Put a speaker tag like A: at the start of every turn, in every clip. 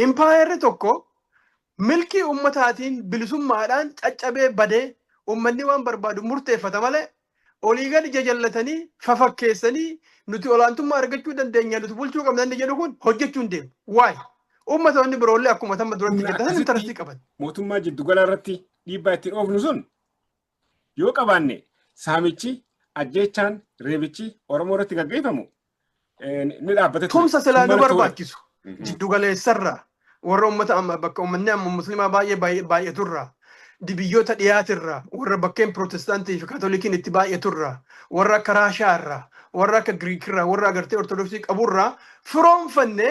A: Impaayerri tokko milkii ummataatiin bilisummaadhaan caccabee badee ummanni waan barbaadu murteeffata malee olii gadi jajallatanii fafakkeessanii nuti olaantummaa argachuu dandeenya nuti bulchuu qabna inni jedhu kun hojjechuu hin deemu. Waay! Ummatoonni biroollee akkuma tamma duratti Humna jettatan akkasitti intarastii qaban. mootummaa jiddu galaa
B: irratti dhiibbaa ittiin oofnu sun yoo qabaanne saamichi, ajjeechaan, reebichi Oromoo irratti gaggeeffamu ni dhaabbata ture. Tumsa silaa nu barbaachisu
A: jiddugaleessarra warra ummata amma bakka ummanni amma muslimaa baay'ee baay'aturra biyyoota dhiyaatirra warra bakkeen pirootestaantii fi kaatolikiin itti baay'aturra warra akka raashaarra warra akka giriikirra warra agartee ortodoksii qaburra firoomfanne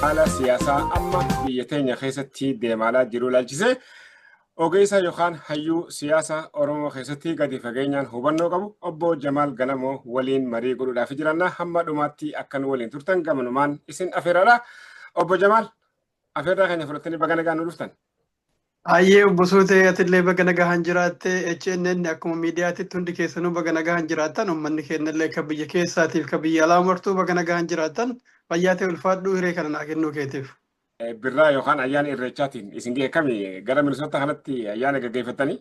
B: Haala siyaasaa amma biyya teenya keessatti deemaalaa jiru ilaalchisee ogeessa yookaan hayyuu siyaasa Oromoo keessatti gadi fageenyaan hubannoo qabu obbo Jamaal Galamoo waliin marii godhuudhaaf jiranna hamma dhumaatti akka nu waliin turtan gamanumaan isin afeeraadha. Obbo Jamaal afeerraa keenya fudhattanii baga nagaan nu dhuftan. Hayyee
A: obbo Suutee atillee baga nagahaan jiraatte HNN akkuma miidiyaatitti hundi keessanuu baga nagahaan jiraattan uummanni keenyallee kan biyya keessaatiif kan biyya alaa martuu baga nagahaan jiraattan fayyaa ta'e ulfaadhuu hiree kana naa kennuu keetiif. Birraa yookaan
B: ayyaana irreechaatiin isin ga'e kami gara Minnesota kanatti ayyaana gaggeeffattanii?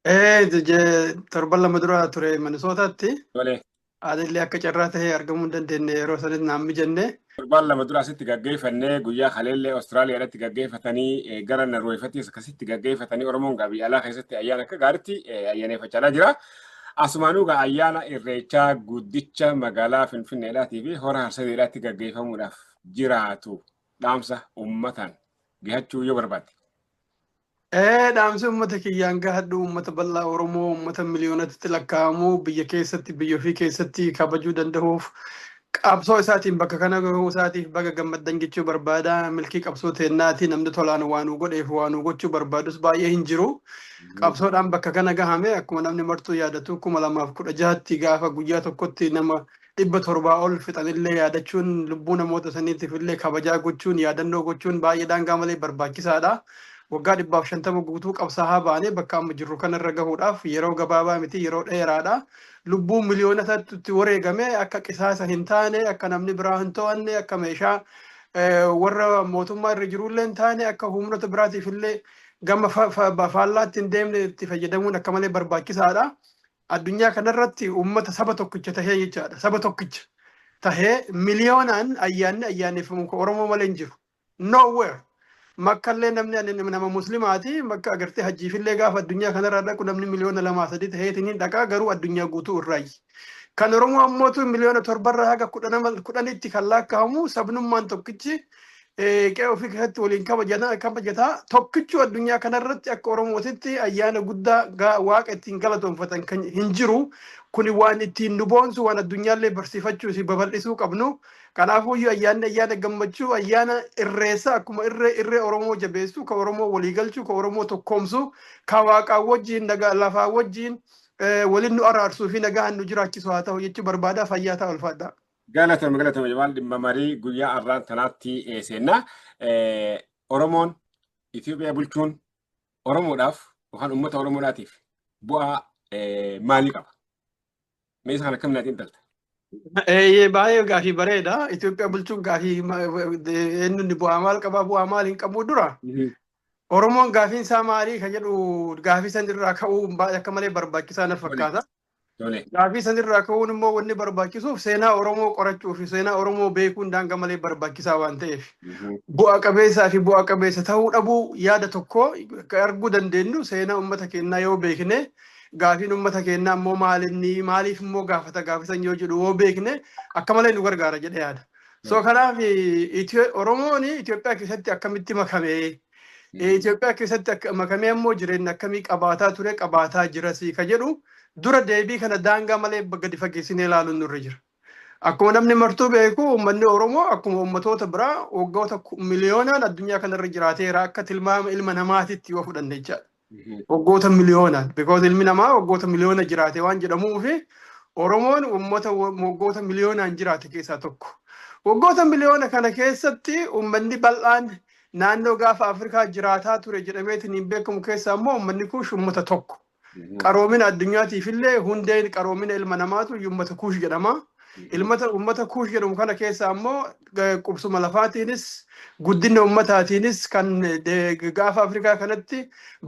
B: Ee, je-
A: torban lama dura ture Minisootaatti. Tolee.
B: Haalli akka
A: carraa ta'ee argamuu hin dandeenye yeroo sanis naan mijanne. Torbaan lama dura asitti
B: gaggeeffannee guyyaa kaleellee Awustiraaliyaadhaatti gaggeeffatanii eh, gara Narweefattis akkasitti gaggeeffatanii Oromoon gaa biyya alaa keessatti ayyaana akka gaariitti eh, ayyaaneffachaa jira. Asumaanuu gaa ayyaana irreechaa guddicha magaalaa Finfinneedhaatii fi hora harsadeedhaatti gaggeeffamuudhaaf jiraatu dhaamsa uummataan gahachuu yoo barbaadde. Ee
A: dhaamsi uummata kiyyaan gahadhu uummata bal'aa Oromoo uummata miliyoonatti lakkaa'amu biyya keessatti biyya ofii keessatti kabajuu danda'uuf qabsoo isaatiin bakka kana gahuu isaatiif baga gammaddan jechuu barbaada milkii qabsoo teennaati namni tolaan waa nu godheef waa nu gochuu barbaadus baay'ee hin jiru qabsoodhaan bakka kana gahame akkuma namni martuu yaadatu kuma lamaaf kudha jahatti gaafa guyyaa tokkotti nama dhibba torbaa ol fixan illee yaadachuun lubbuu namoota saniitiif illee kabajaa gochuun yaadannoo gochuun baay'ee daangaa malee barbaachisaadha. Waggaa dhibbaaf shantama guutuu qabsaahaa baanee bakka amma jirru kanarra gahuudhaaf yeroo gabaabaa miti yeroo dheeraadha. Lubbuun miliyoonotatti itti wareegame akka qisaasa hin taane akka namni biraa hin to'anne akka meeshaa warra mootummaa irra jirullee hin taane akka humnoota biraatiif illee gama faallaatti hin deemne itti fayyadamuun akka malee barbaachisaadha. Addunyaa kanarratti uummata saba tokkicha tahee jechaadha. Saba tokkicha tahee miliyoonaan ayyaanni ayyaaneffamu kan Oromoo malee hin jiru. Nowhere. Makkallee namni ani nama muslimaati makka agartee hajjiifillee gaafa addunyaa kanarraa dhaqu namni miliyoona lamaa sadii taheetiin hin dhaqaa garuu addunyaa guutuu irraayyi. Kan Oromoo ammootu miliyoona torbarraa haga kudhanitti kan laakkahamu sabnummaan tokkichi qe'ee ofii keessatti waliin kabajana- kabajata tokkichuu addunyaa kanarratti akka oromootitti ayyaana guddaa ga- waaqa ittiin galatoonfatan kan hin jiru kuni waan ittiin nu boonsu waan addunyaallee barsiifachuu fi babal'isuu qabnu kanaafuu iyyuu ayyaanni ayyaana gammachuu ayyaana irreessa akkuma irree irree oromoo jabeessu ka oromoo walii galchu ka oromoo tokkoomsu ka waaqaa wajjiin nagaa lafaa wajjiin eh, waliin nu araarsuu fi nagaan nu jiraachisu haa ta'u jechuu barbaada fayyaa ta'aa ulfaadhaa. Galatoomi galatoomi
B: Jamaal dhimma marii guyyaa arraan tanaatti seenna. Oromoon Itoophiyaa bulchuun Oromoodhaaf yookaan uummata Oromoodhaatiif bu'aa maalii qaba? Mee isa kana akkamiin ati intalta? Eeyyee
A: baay'ee gaafii bareeda. Itoophiyaa bulchuun gaafii eenyuun bu'aa maal qabaa bu'aa maal hin qabuu dura. Oromoon gaafiin isaa maalii kan jedhu gaafii san irraa ka'uu akka malee barbaachisaa na fakkaata. Tole. Gaafii sanirraa ka'uun immoo wanni barbaachisuuf seenaa Oromoo qorachuu fi seenaa Oromoo beekuun daanga malee barbaachisaa waan ta'eef bu'a qabeessaa fi bu'a qabeessa ta'uu dhabuu yaada tokko kan arguu dandeenyu seenaa uummata keenyaa yoo beekne gaafiin uummata keenyaa immoo maalinni maaliif immoo gaafata gaafisan yoo jedhu yoo beekne akka malee nu gargaara jedhee yaada. So kanaaf Itiyoo- Oromoon Itoophiyaa keessatti akkamitti makamee Eh, Itoophiyaa keessatti akka makamee ammoo jireenya akkamii qabaataa ture qabaataa jirasii ka jedhu dura deebii kana daangaa malee gadi fageessinee ilaaluun nurra jira. Akkuma namni martuu beeku uummanni Oromoo akkuma uummatoota biraa waggoota ku- miliyoonaan addunyaa kanarra jiraateera akka tilmaama ilma namaatitti yoo fudhanne jechaadha. Waggoota miliyoona because ilmi namaa waggoota miliyoona jiraate waan jedhamuuf Oromoon uummata waggoota miliyoonaan jiraate keessaa tokko. Waggoota miliyoona kana keessatti uummanni bal'aan naannoo gaafa Afrikaa jiraataa ture jedhameetiin hin beekamu keessaa immoo uummanni kuush uummata tokko. Qaroomina addunyaatiif illee hundeen qaroomina ilma namaatu uummata kuush jedhama. Ilmata uummata kuush jedhamu kana keessa ammoo eh, qubsuma lafaatiinis guddina uummataatiinis kan eh, gaafa Afrikaa kanatti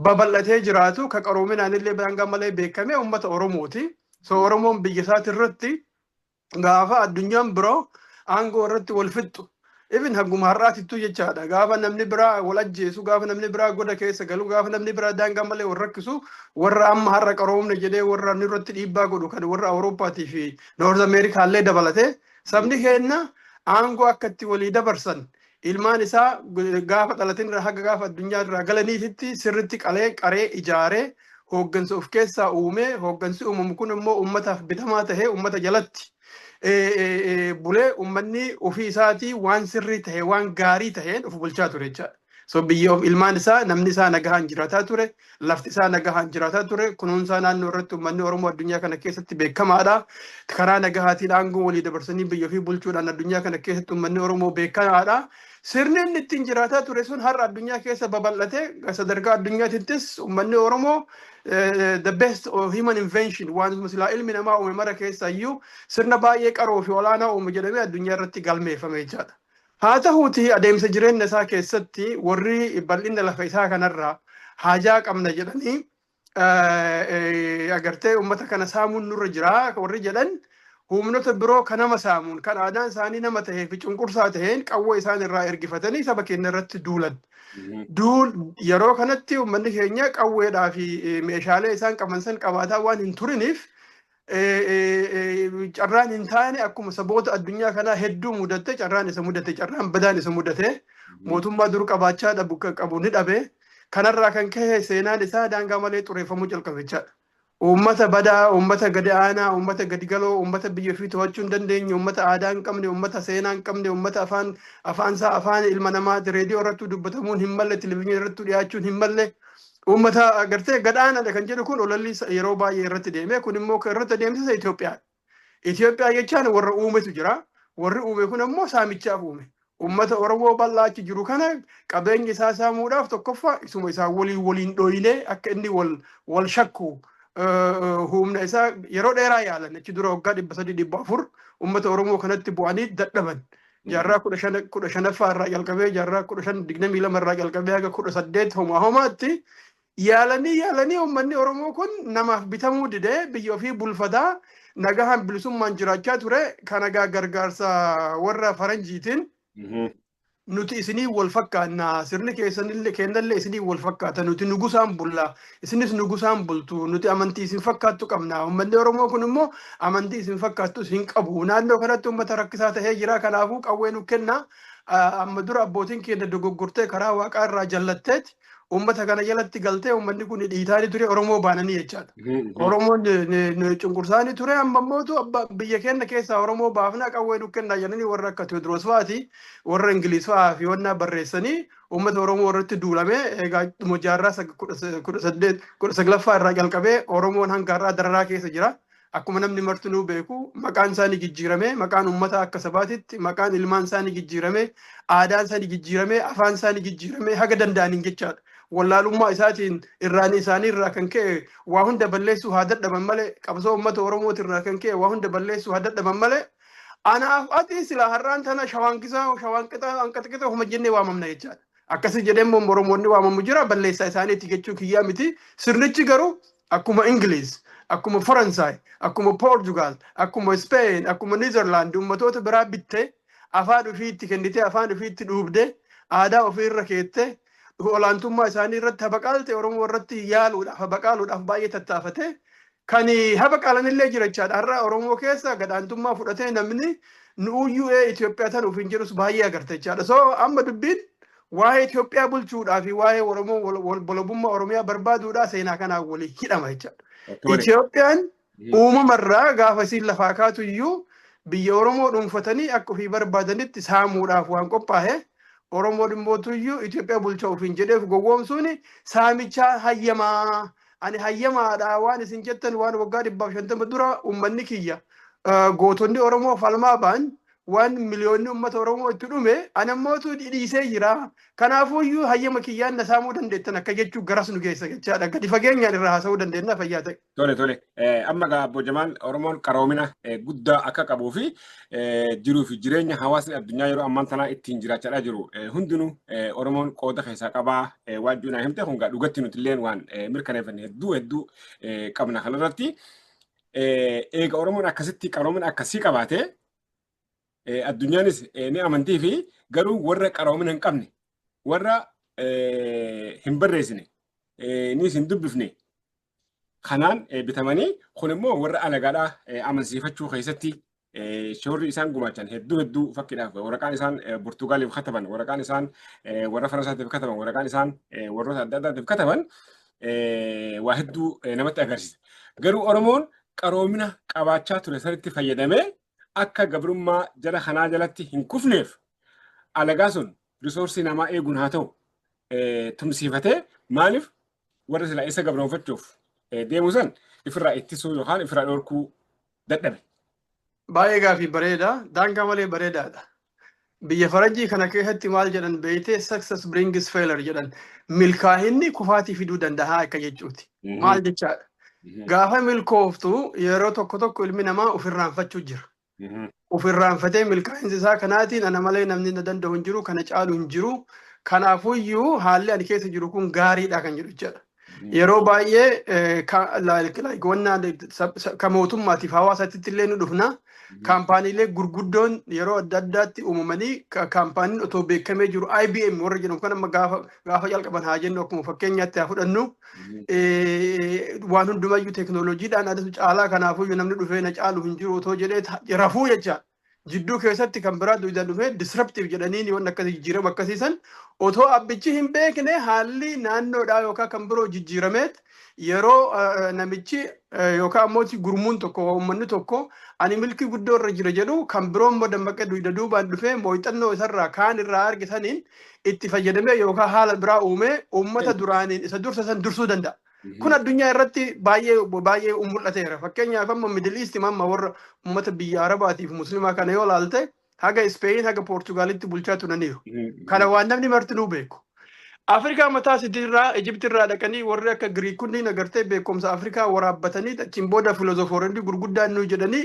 A: babal'atee jiraatu ka qaroominaan illee daangaa malee beekame uummata Oromooti. So Oromoon biyya isaati irratti gaafa addunyaan biroo aangoo irratti wal fixxu Even hanguma har'aatittuu jechaadha. Gaafa namni biraa wal ajjeesu, gaafa namni biraa goda keessa galu, gaafa namni biraa daangaa malee wal rakkisu, warra amma har'a qaroomne jedhee warra nurratti dhiibbaa godhu kan warra Awurooppaatii fi Noorz Ameerikaa illee dabalate sabni keenna aangoo akka itti walii dabarsan ilmaan isaa gaafa dhalatin irraa haga gaafa addunyaa irraa galaniititti sirritti qalee qaree ijaaree hooggansa of keessaa uumee hooggansi uumamu kun immoo uummataaf bitamaa tahee uummata jalatti bulee uummanni ofii isaatii waan sirrii ta'e waan gaarii ta'een of bulchaa ture jechaadha. So biyya of ilmaan isaa namni isaa nagahaan jiraataa ture, lafti isaa nagahaan jiraataa ture, kunuunsaa naannoo irratti uummanni Oromoo addunyaa kana keessatti beekamaadha. Karaa nagahaatiin aangoo walii dabarsanii biyya ofii bulchuudhaan addunyaa kana keessatti uummanni Oromoo beekamaadha. Sirni inni ittiin jiraataa ture sun har'a addunyaa keessa babal'atee sadarkaa addunyaattis uummanni Oromoo eh, the best of human invention waantuma silaa ilmi namaa uume mara keessaa iyyuu sirna baay'ee qaroo fi olaanaa uume jedhamee addunyaa irratti galmeeffame jechaadha. Haa ta'uuti adeemsa jireenya isaa keessatti warri bal'ina lafa isaa kanarraa haajaa qabna jedhanii eh, eh, agartee uummata kana saamuun nurra jira warri jedhan humnota biroo ka nama saamuun, kan aadaan isaanii nama tahee fi cunqursaa taheen qawwee isaan irraa ergifatanii saba keenya irratti duulan. Duul yeroo kanatti uummanni keenya qawweedhaa fi eh, meeshaalee isaan qaban san qabaataa waan hin turiniif eh, eh, eh, carraan hin taane akkuma saboota addunyaa kanaa hedduu mudatte carraan isa mudate carraan badaan isa mudate mootummaa dur qabaachaa dhabu qabu ni dhabe kanarraa kan ka'e seenaan isaa daangaa malee xureeffamuu calqabichaadha. Uummata badaa, uummata gadi aanaa, uummata gadi galoo, uummata biyya ofii to'achuu hin dandeenye, uummata aadaa hin qabne, uummata seenaa hin qabne, uummata afaan afaan isaa afaan ilma namaa reediyoo irrattuu dubbatamuun hin malle, televizyiinii irrattuu dhiyaachuun hin malle, uummata agartee gad aanaadha kan jedhu kun ololli yeroo baay'ee irratti deeme kun immoo kan irratti adeemsisa Itoophiyaa. Itoophiyaa jechaan warra uumetu jira. Warri uume kun ammoo saamichaaf uume. Uummata Oromoo bal'aa achi jiru kana qabeenya isaa saamuudhaaf tokkoffaa isuma isaa waliin waliin dhooyinee akka inni wal wal shakku humna isaa yeroo dheeraa yaalan achi dura waggaa dhibba sadii dhibba afur uummata Oromoo kanatti bu'anii dadhaban. Jaarraa kudha shan kudha shanaffaa irraa jalqabee jaarraa kudha shan digdamii lama irraa jalqabee haga kudha saddeet homaa homaatti Yaalanii yaalanii uummanni Oromoo kun namaaf bitamuu didee biyya ofii bulfataa nagahaan bilisummaan jiraachaa ture kan nagaa gargaarsa warra faranjiitiin nuti isinii wal fakkaanna sirni keessanillee kennallee isinii wal fakkaata nuti nugusaan bulla isinis nugusaan bultu nuti amantii isin fakkaattu qabna uummanni Oromoo kun immoo amantii isin fakkaattu isin qabu naannoo kanatti uummata rakkisaa ta'ee jira kanaafuu qawwee nu kenna amma dura abbootiin keenya dogoggortee karaa waaqaa irraa jallatteeti Uummata kana jalatti galtee uummanni kun dhiitaani ture Oromoo baananii jechaadha. Oromoon cunqursaani ture amma immoo biyya keenya keessaa Oromoo baafnaa qawwee nu kennaa jedhanii warra akka Tewoodiroos fa'aati warra Ingiliis fa'aa fi wannaa barreessanii uummata Oromoo irratti duulamee egaa dhuma jaarraa kudha saglaffaa irraa jalqabee Oromoon hanga har'aa dararaa keessa jira. Akkuma namni martinuu beeku maqaan isaa ni jijjiiramee, maqaan ummataa akka sabaatitti maqaan ilmaan isaa ni jijjiiramee, aadaan isaa ni jijjiiramee, afaan isaa ni jijjiiramee haga danda'aniin jechaadha. Wallaalummaa isaatiin irraanii isaanii irraa kan ka'e waa hunda balleessuu haa dadhaban malee qabsoo ummata Oromooti irraa kan ka'e waa hunda balleessuu haa dadhaban malee anaaf ati silaa har'aan tana shawaan kisaa shawaan qixaa hanqata qixaa homa jennee waamamna jechaadha. Akkasii jedhee immoo Oromoonni waamamu jira balleessaa isaaniiti jechuu kiyyaa miti. Sirnichi garuu Akkuma Ingiliiz, akkuma Faransaay, akkuma Poorjugaal, akkuma Ispeen, akkuma Niizarlaand ummatoota biraa bitte, afaan ufii itti kennitee, afaan ufii itti dhuubde, aadaa ufii irra keette, olaantummaa isaanii irratti habaqaalte Oromoo irratti yaaluudhaaf, habaqaaluudhaaf baay'ee tattaafate. Kan habaqaalan illee jira jechaadha. Har'a Oromoo keessa gadaantummaa fudhatee namni nu UUA Itoophiyaa tan ofiin jedhus baay'ee agarta jechaadha. So amma dubbiin waa'ee Itoophiyaa bulchuudhaa fi waa'ee Oromoo wal- wal- walabummaa Oromiyaa barbaaduudhaa seenaa kanaan waliin hidhama jechaadha. Tole. Itoophiyaan Mhm. uumamarraa gaafa isiin lafaa kaatu iyyuu biyya Oromoo dhuunfatanii akka ofii barbaadanitti saamuudhaaf waan qophaa'e Oromoo dhimmootu iyyuu Itoophiyaa bulchaa ofiin jedheef gowwoomsuun saamichaa hayyamaa ani hayyamaadha waan isin jettan waan waggaa dhibbaaf shantama dura uummanni kiyya ah, gootonni Oromoo falmaa ba'an waan miliyoonni uummata Oromoo itti dhume ana mootuu dhiisee jira. Kanaafuu iyyuu hayyama kiyyaan na saamuu dandeettan akka jechuu garas nu geessa jechaadha. Gadi fageenyaan irraa haasa'uu dandeenya fayyaa ta'e. Tole tole.
B: Amma gaa Obbo Jamaal Oromoon qaroomina guddaa akka qabuu fi jiruu fi jireenya hawaasni addunyaa yeroo ammaan tanaa ittiin jiraachaa jiru hundinuu Oromoon qooda keessaa qabaa waan jiru naa himte kun gaa dhugatti nuti illee waan mirkaneeffanne hedduu hedduu qabna kanarratti. Eega Oromoon akkasitti qaroomina akkasii qabaate addunyaanis ni amantii fi garuu warra qaroomina hin qabne warra hin barreessine nis hin dubbifne kanaan bitamanii kun immoo warra alagaadhaa amansiifachuu keessatti shoorri isaan gumaachan hedduu hedduu fakkiidhaaf waraqaan isaan Burtugaaliif kataban waraqaan isaan warra Faransaatiif kataban waraqaan isaan warroota adda addaatiif kataban waa hedduu namatti agarsiisa. Garuu Oromoon qaroomina qabaachaa ture sanitti fayyadamee akka gabrummaa jara kanaa jalatti hin kufneef alagaa sun risoorsii namaa eeguun haa ta'u tumsiifatee maaliif warra silaa isa gabroonfachuuf deemu san ifirraa ittisuu yookaan ifirraa dhorkuu dadhabe. Baay'ee
A: gaafii bareeda. Daangaa malee bareedaadha. Biyya Faranjii kana keessatti maal jedhan beeytee success brings failure jedhan. Milkaahinni kufaatii fiduu danda'a akka jechuuti. Maal jechaadha? Gaafa milkooftu yeroo tokko tokko ilmi namaa ofirraanfachuu jira. Ofirraanfatee milkaa'insa isaa kanaatiin ana malee namni na danda'u hin jiru, kana caalu hin jiru. Kanaafuyyuu haalli ani keessa jiru kun gaariidha kan jedhu jechaadha. Yeroo baay'ee ka mootummaatiif hawaasaatti illee nu dhufna. Kaampaaniilee gurguddoon yeroo adda addaatti uumamanii kaampaaniin otoo beekamee jiru IBM warra jedhamu kan amma gaafa jalqaban haa jennu akkuma fakkeenyaatti haa fudhannu. Waan hundumayyuu teekinooloojiidhaan adatu caalaa kanaafuu namni dhufee na caalu hin jiru otoo jedhee rafuu jecha. jidduu keessatti kan biraa duwidaan dhufee disruptive jedhaniin waan akkasii jijjiirama akkasii san otoo abbichi hin beekne haalli naannoodhaa yookaan kan biroo jijjiirameet yeroo eh, namichi eh, yookaan ammoo gurmuun tokko uummanni tokko ani milkii guddoo irra jira jedhu kan biroo immoo dammaqee duwida duubaan dhufee mooxannoo isarraa kaan irraa arge saniin itti fayyadamee yookaan haala biraa uumee uummata duraaniin isa dursa san dursuu danda'a. Kun addunyaa irratti baay'ee baay'ee mul'ateera. Fakkeenyaaf amma Middle East amma warra uummata biyya Arabaatiif Muslimaa kana yoo ilaalte haga Ispeeyin haga Poortugaalitti bulchaa turaniiru. Kana waan namni martinuu beeku. Afrikaa mataa isiitirraa Ijiptirraa dhaqanii warri akka Giriik kunniin agartee beekumsa Afrikaa waraabbatanii achiin booda filoozofooronni gurguddaan nuyi jedhanii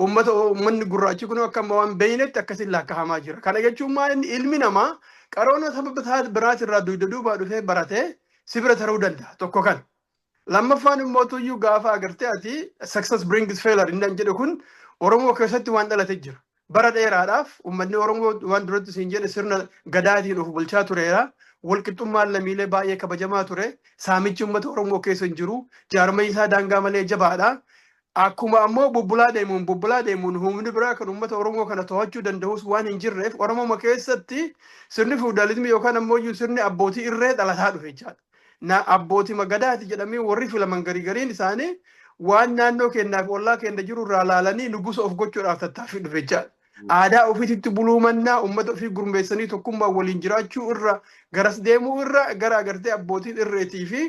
A: uummata uummanni gurraachi kun akka amma waan beeynetti akkasiin laakkahamaa jira. Kana jechuun maal inni ilmi namaa qaroona sababa isaa biraatirraa duyda duubaa dhufee baratee si bira taruu danda'a tokko kana. Lammaffaan immoo tuyyuu gaafa agartee ati success brings failure inni jedhu kun Oromoo keessatti waan dhalate jira. Bara dheeraadhaaf uummanni Oromoo waan duratti siin jedhe sirna gadaatiin of bulchaa tureera. Walqixxummaan lammiilee baay'ee kabajamaa ture. Saamichi uummata Oromoo keessa hin jiru. Jaarmayni isaa daangaa malee jabaadha. Akkuma ammoo bubbulaa deemuun bubbulaa deemuun humni biraa kan uummata Oromoo kana tohachuu dandahus waan hin jirreef Oromoma keessatti sirni fiwudaalizmii yookaan ammooyyuu sirni abbootii irree dhalataa dhufe jechaadha. Na abbootima Gadaati jedhamii warri filaman gari gariin isaanii waan naannoo keennaa fi ollaa keenna jiru irraa laalanii nugusa of gochuudhaaf tattaaffii dhufe jechaadha. Aadaa ofiititti buluu mannaa uummata ofii gurmeessanii tokkummaan waliin jiraachuu irra garas deemuu irra gara agartee abbootiin irreetii fi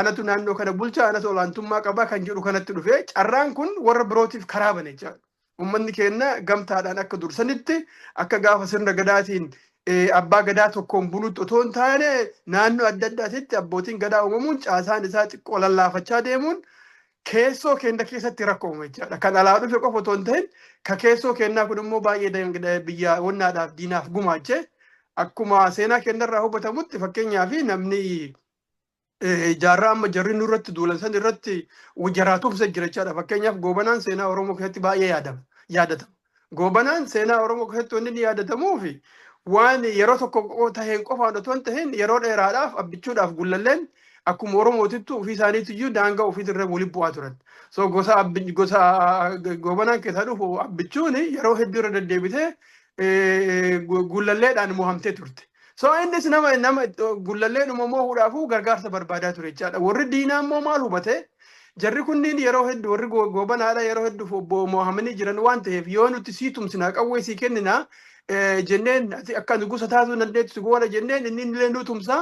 A: anatu naannoo kana bulcha anatu olaantummaa qabaa kan jedhu kanatti dhufe carraan kun warra birootiif karaa bane jechaadha. Uummanni keenya gamtaadhaan akka dursanitti akka gaafa sirna gadaatiin abbaa gadaa tokkoon bulutti otoo hin taane naannoo adda addaatitti abbootiin gadaa uumamuun caasaan isaa xiqqoo lallaafachaa deemuun keessoo keenya keessatti rakkoo uume jechaadha. Kan alaa dhufe qofa otoo hin ta'in ka keessoo keenyaa kun immoo baay'ee dangada- biyya wannaadhaaf diinaaf gumaache akkuma seenaa keenyarraa hubatamutti fakkeenyaaf namni eh, jaarraa amma jarri nurratti duulan san irratti jaraatuumsa jira jechaadha. Fakkeenyaaf goobanaan seenaa Oromoo keessatti baay'ee yaadama yaadatama. Goobanaan seenaa Oromoo keessatti wanni inni yaadatamuu fi waan yeroo tokko qofa taheen qofaan otoo hin tahin yeroo dheeraadhaaf abbichuudhaaf gullalleen akkuma Oromootittu ofii isaaniitiyyuu daangaa ofiitirra waliin bu'aa turan. So gosa abbi- gosa goobanaan keessaa dhufu abbichuun yeroo hedduu irra deddeebitee eh, gu- gullalleedhaan mohamtee turte. So innis nama nama gullalleedhuma mohuudhaafuu gargaarsa barbaadaa ture jechaadha. Warri diinaa immoo maal hubate? Jarri kunniin yeroo heddu warri go- goobanaadha yeroo hedduuf obbo moohamanii jiran waan ta'eef yoo nuti sii tumsinaa qawwee sii kenninaa eh, jenneen ati akka nu gosa taatu hin dandeettu si goona jenneen inni illee nu tumsaa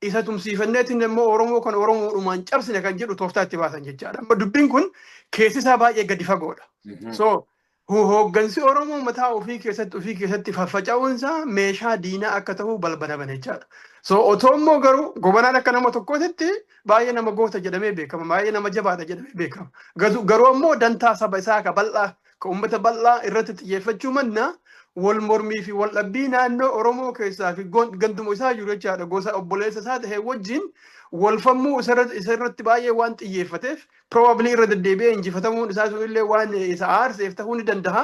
A: isa tumsiifanneetiin immoo Oromoo kan Oromoodhumaan cabsine kan jedhu tooftaa itti baasan jechaadha. Amma dubbiin kun keessi isaa baay'ee gadi fagoodha. So Hooggansi Oromoo mataa ofii keessatti ofii keessatti faffaca'uun isaa meeshaa diinaa akka ta'uu balbala bane jechaadha. So otoo immoo garuu gobanaan akka nama tokkootitti baay'ee nama goota jedhamee beekama. Baay'ee nama jabaadha jedhamee beekama. Gadu- Garuu ammoo dantaa saba isaa ka bal'aa ka uummata bal'aa irratti xiyyeeffachuu manna wal mormii fi wal dhabbii naannoo Oromoo keessaa fi gon- ganduma isaa jiru jechaadha. Gosa obboleessa isaa ta'e wajjin wal falmuu isarra- isarratti baay'ee waan xiyyeeffateef probably irra deddeebi'ee injifatamuun isaa sun illee waan isa aarseef ta'uu ni danda'a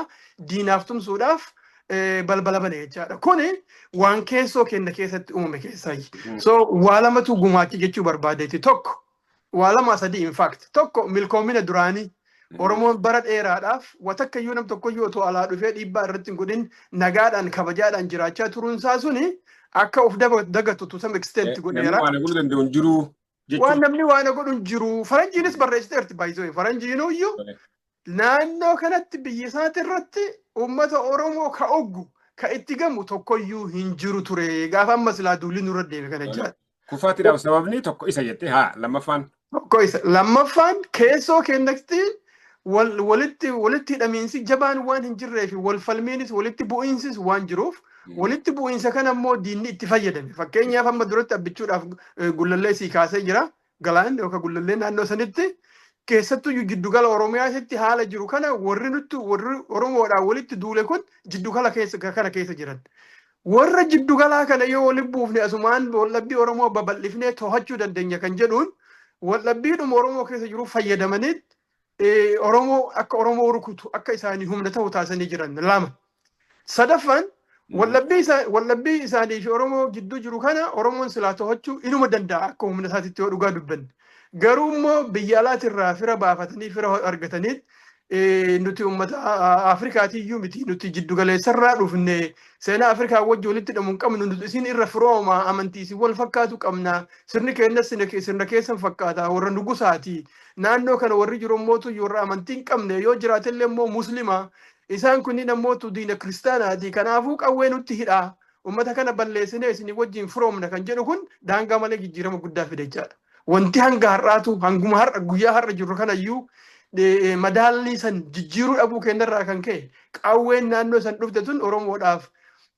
A: diinaaf tumsuudhaaf eh, balbala bane jechaadha. Kuni waan keessoo kenna keessatti uumame keessaayi. Mm. So waa lamatu gumaache jechuu barbaadeeti tokko waa lama sadii in fact tokko milkoomina duraanii Oromoon bara dheeraadhaaf watakka iyyuu nam tokko iyyuu otoo alaa dhufee dhiibbaa irratti hin godhin nagaadhaan kabajaadhaan jiraachaa turuun isaa suni akka of daba- dagatu to some extent godheera. Namni waan godhuu danda'u hin jiru. Waan jechuun namni waana godhu hin jiru. Faranjiinis barreessiteerti baay'isoo. Faranjiinuu iyyuu naannoo kanatti biyya isaati irratti uummata Oromoo ka oggu ka itti gamu tokkoyyuu hin jiru ture. Gaafa amma silaa duulli nurra deeme kana jira. kufaatiidhaaf sababni
B: tokko isa jettee haa lammaffaan Tokko isa.
A: Lammaffaan keessoo keenyatti wal, walitti, walitti hidhamiinsi jabaan waan hin jirree fi wal falmiinis walitti bu'iinsis waan jiruuf Mm. walitti bu'iinsa kana immoo diinni itti fayyadame. Fakkeenyaaf amma duratti abbichuudhaaf eh, gullallee sii kaasee jira. Galaan yookaan gullallee naannoo sanitti keessattuu iyyuu jiddugala Oromiyaasitti haala jiru kana warri nutti warri Oromoodhaan walitti duule kun jiddugala keessa kana keessa jiran. Warra jiddu galaa kana yoo walitti buufne asumaan waldhabbii Oromoo babal'ifnee to'achuu dandeenya kan jedhuun waldhabbiidhuma Oromoo keessa jiru fayyadamanii Oromoo akka Oromoo rukutu akka isaanii humna ta'u taasisanii jiran lama. Sadaffaan waldhabbii isaanii fi Oromoo gidduu jiru kana Oromoon silaa to'achuu inuma danda'a akka humna isaatitti yoo dhugaa dubbanne. Garuu immoo biyya alaatirraa fira baafatanii fira argatanii nuti uummata Afrikaatiyyuu miti nuti jiddu galeessarraa dhufne seenaa Afrikaa wajji walitti hidhamu hin qabnu nuti isin irra firooma amantii isin wal fakkaatu qabna sirni keenyas sirna keessan fakkaata warra nugusaati naannoo kana warri jiru immoo warra amantii hin qabne yoo jiraatellee immoo muslima isaan kunniin ammoo diina kiristaanaati kanaafuu qawwee nutti hidhaa uummata kana balleessinee isin wajjin firoomna kan jedhu kun daangaa malee jijjiirama guddaa fide jechaadha. Wanti hanga har'aatu hanguma har'a guyyaa har'a jirru kanayyuu eh, madaallii san jijjiiruu dhabuu keenyarraa kan ka'e qawween naannoo san dhufte tun Oromoodhaaf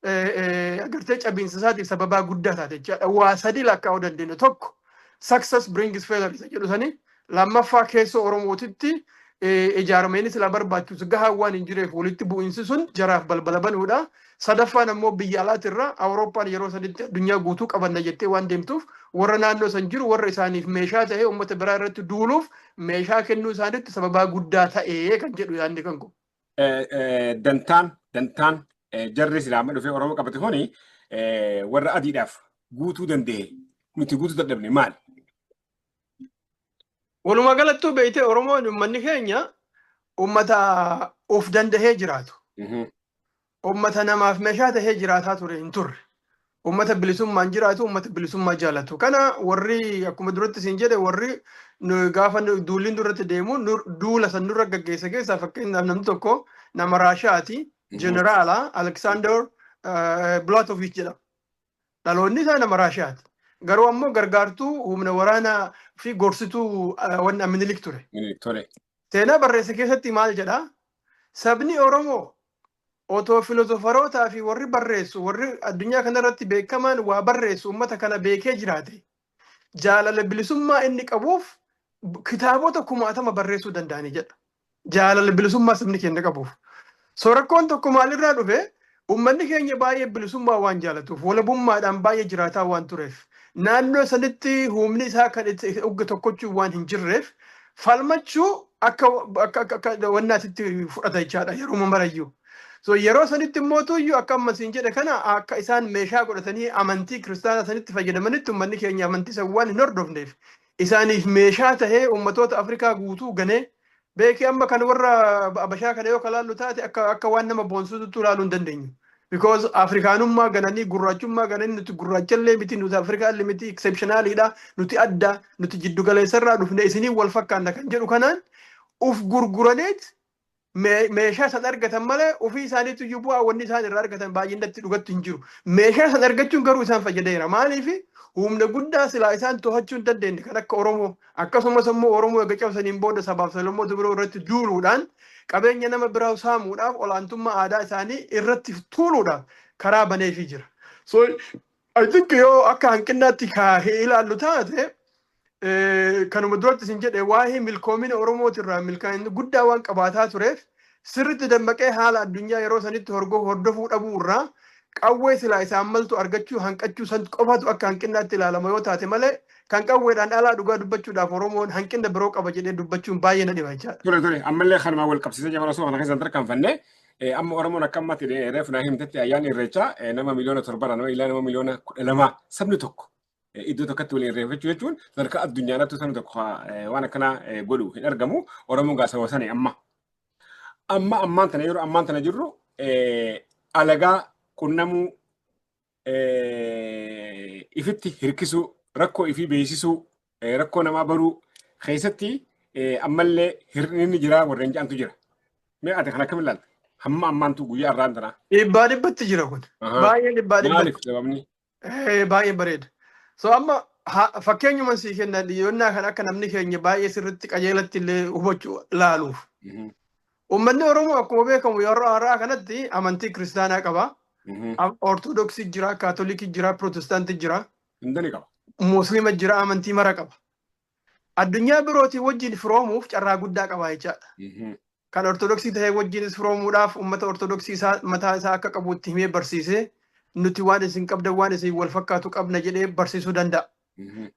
A: eh, eh, agartee cabiinsa isaatiif sababaa guddaa taate jechaadha. Waa sadii lakkaa'uu dandeenya. Tokko success brings failure isa jedhu sanii lammaffaa keessoo Oromootitti eh, ijaarameenis ilaa barbaachisu gahaa waan hin jireef walitti bu'iinsi sun jaraaf balbala banuudha. Sadaffaan ammoo biyya alaatirraa Awurooppaan yeroo sanitti addunyaa guutuu qabanna jettee waan deemtuuf warra naannoo san jiru warra isaaniif meeshaa ta'ee uummata biraa irratti duuluuf meeshaa kennuu isaanitti sababaa guddaa ta'ee kan jedhu yaadni kan kun. Dantaan
B: dantaan jarri islaama dhufee Oromoo qabate kuni warra adiidhaaf guutuu danda'e nuti guutuu dadhabne maali?
A: Walumaa galattuu beeytee Oromoon uummanni keenya uummata of dandahee jiraatu. Uummata namaaf meeshaa tahee jiraataa ture hin turre. Uummata bilisummaan jiraatu, uummata bilisummaa jaalatu. Kana warri akkuma duratti siin jedhe warri gaafa duulli duratti deemu duula san nurra gaggeessa keessaa fakkeenyaaf namni tokko nama Raashaati, jeneraala Aleksaandar Bilaatoviich jedhama. Dhaloonni isaa nama Raashiyaati. Garuu ammoo gargaartuu humna waraanaa fi gorsituu ah, wanna Minilik ture. Minilik tole. Seenaa barreesse keessatti maal jedha? Sabni Oromoo otoo filozofarootaa fi warri barreessu, warri addunyaa kanarratti beekamaan waa barreessu uummata kana beekee jiraate. Jaalala bilisummaa inni qabuuf b- kitaabota kumaatama barreessuu danda'ani jedha. jaalala bilisummaa sabni keenya qabuuf. So rakkoon tokko maalirraa dhufe uummanni keenya baay'ee bilisummaa waan jaalatuuf walabummaadhaan baay'ee jiraataa waan tureef naannoo sanitti humni isaa kan itti ugga tokkochuu waan hin jirreef falmachuu akka akka akka- akka wannaatitti fudhata jechaadha yeroo marayyuu. So yeroo sanitti immoo tuyyuu akka amma siin jedhe kana akka isaan meeshaa godhatanii amantii kiristaanaa sanitti fayyadamanitti uummanni keenya amantii san waan hin hordofneef isaaniif meeshaa tahee ummatoota Afrikaa guutuu ganee beeki amma kan warra Abashaa kana yoo kalaallu taate akka akka waan nama boonsuutu ilaaluu hin dandeenyu. Because Afrikaanummaa gananii gurraachummaa gananii nuti gurraachallee miti nuti Afrikaallee miti exceptionaliidha nuti adda nuti jiddu galeessarraa dhufne isiniin wal fakkaanna kan jedhu kanaan uf gurguraneet mee- meeshaa san argatan malee ofii isaaniitu iyyuu bu'aa wanni isaan irraa argatan baay'inatti dhugatti hin jiru. Meeshaa san argachuun garuu isaan fayyadeera. Maaliif humna guddaa silaa isaan to'achuu hin dandeenye kan akka Oromoo akkasumas immoo Oromoo erga cabsaniin booda sabaaf sablammoota biroo irratti duuluudhaan qabeenya nama biraa saamuudhaaf olaantummaa aadaa isaanii irratti tuuluudhaaf karaa baneefii jira. So I think yoo akka hanqinnaatti kaa ilaallu taate kanuma duratti isin jedhe waa'ee milkoomina Oromooti irraa milkaa'ina guddaa waan qabaataa tureef sirritti dammaqee haala addunyaa yeroo sanitti hordofuu dhabuu irraa qawwee silaa isaan maltu argachuu hanqachuu san qofatu akka hanqinnaatti ilaalama yoo taate malee kan qawweedhaan alaa dhugaa dubbachuudhaaf Oromoon hanqina biroo qaba jedhee dubbachuun baay'ee na dhiba jechaadha. Ture ture ammallee kanumaan
B: wal qabsiisee jabana osoo kana keessan tarkaanfanne amma Oromoon akka ammatti reefu naa himtetti ayyaanni irreechaa nama miliyoona torbarra nama ilaa nama miliyoona kudha lama sabni tokko iddoo tokkotti waliin reeffachuu jechuun sadarkaa addunyaanattuu sana tokko waan akkanaa godhu hin argamu. Oromoon gaa sababa sana amma. Amma ammaan tana yeroo ammaan tana jirru alagaa qunnamuu ifitti hirkisuu rakkoo ifii beeksisuu rakkoo namaa baruu keessatti ammallee hir'inni jiraa warreen ja'antu jira. Mee ati kan akkam ilaalta? Hamma ammaantu guyyaa irraan tanaa. Dhibbaa dhibbatti jira
A: kun. Baay'ee dhibbaa dhibbatti. Maaliif sababni? Eh, baay'ee bareeda. So amma ha- fakkeenyuma sii kenna dhiyoonnaa kan akka namni keenya baay'ee sirriitti qajeelatti illee hubachuu ilaaluuf. Mhm, Uummanni Oromoo akkuma beekamu yeroo har'aa kanatti amantii kiristaanaa qaba. mhm. Am- Ortodoksii jira, Kaatolikii jira, Pirootestaantii jira, Hundani qaba.
B: Musliima jira,
A: amantii mara qaba. Addunyaa birootii wajjin firoomuuf carraa guddaa qaba jechaadha. Kan Ortodoksii ta'ee wajjinis firoomuudhaaf uummata Ortodoksii isaa mataa isaa akka qabu itti himee barsiisee nuti waan isin qabdan waan isin wal fakkaatu qabna jedhee barsiisuu danda'a.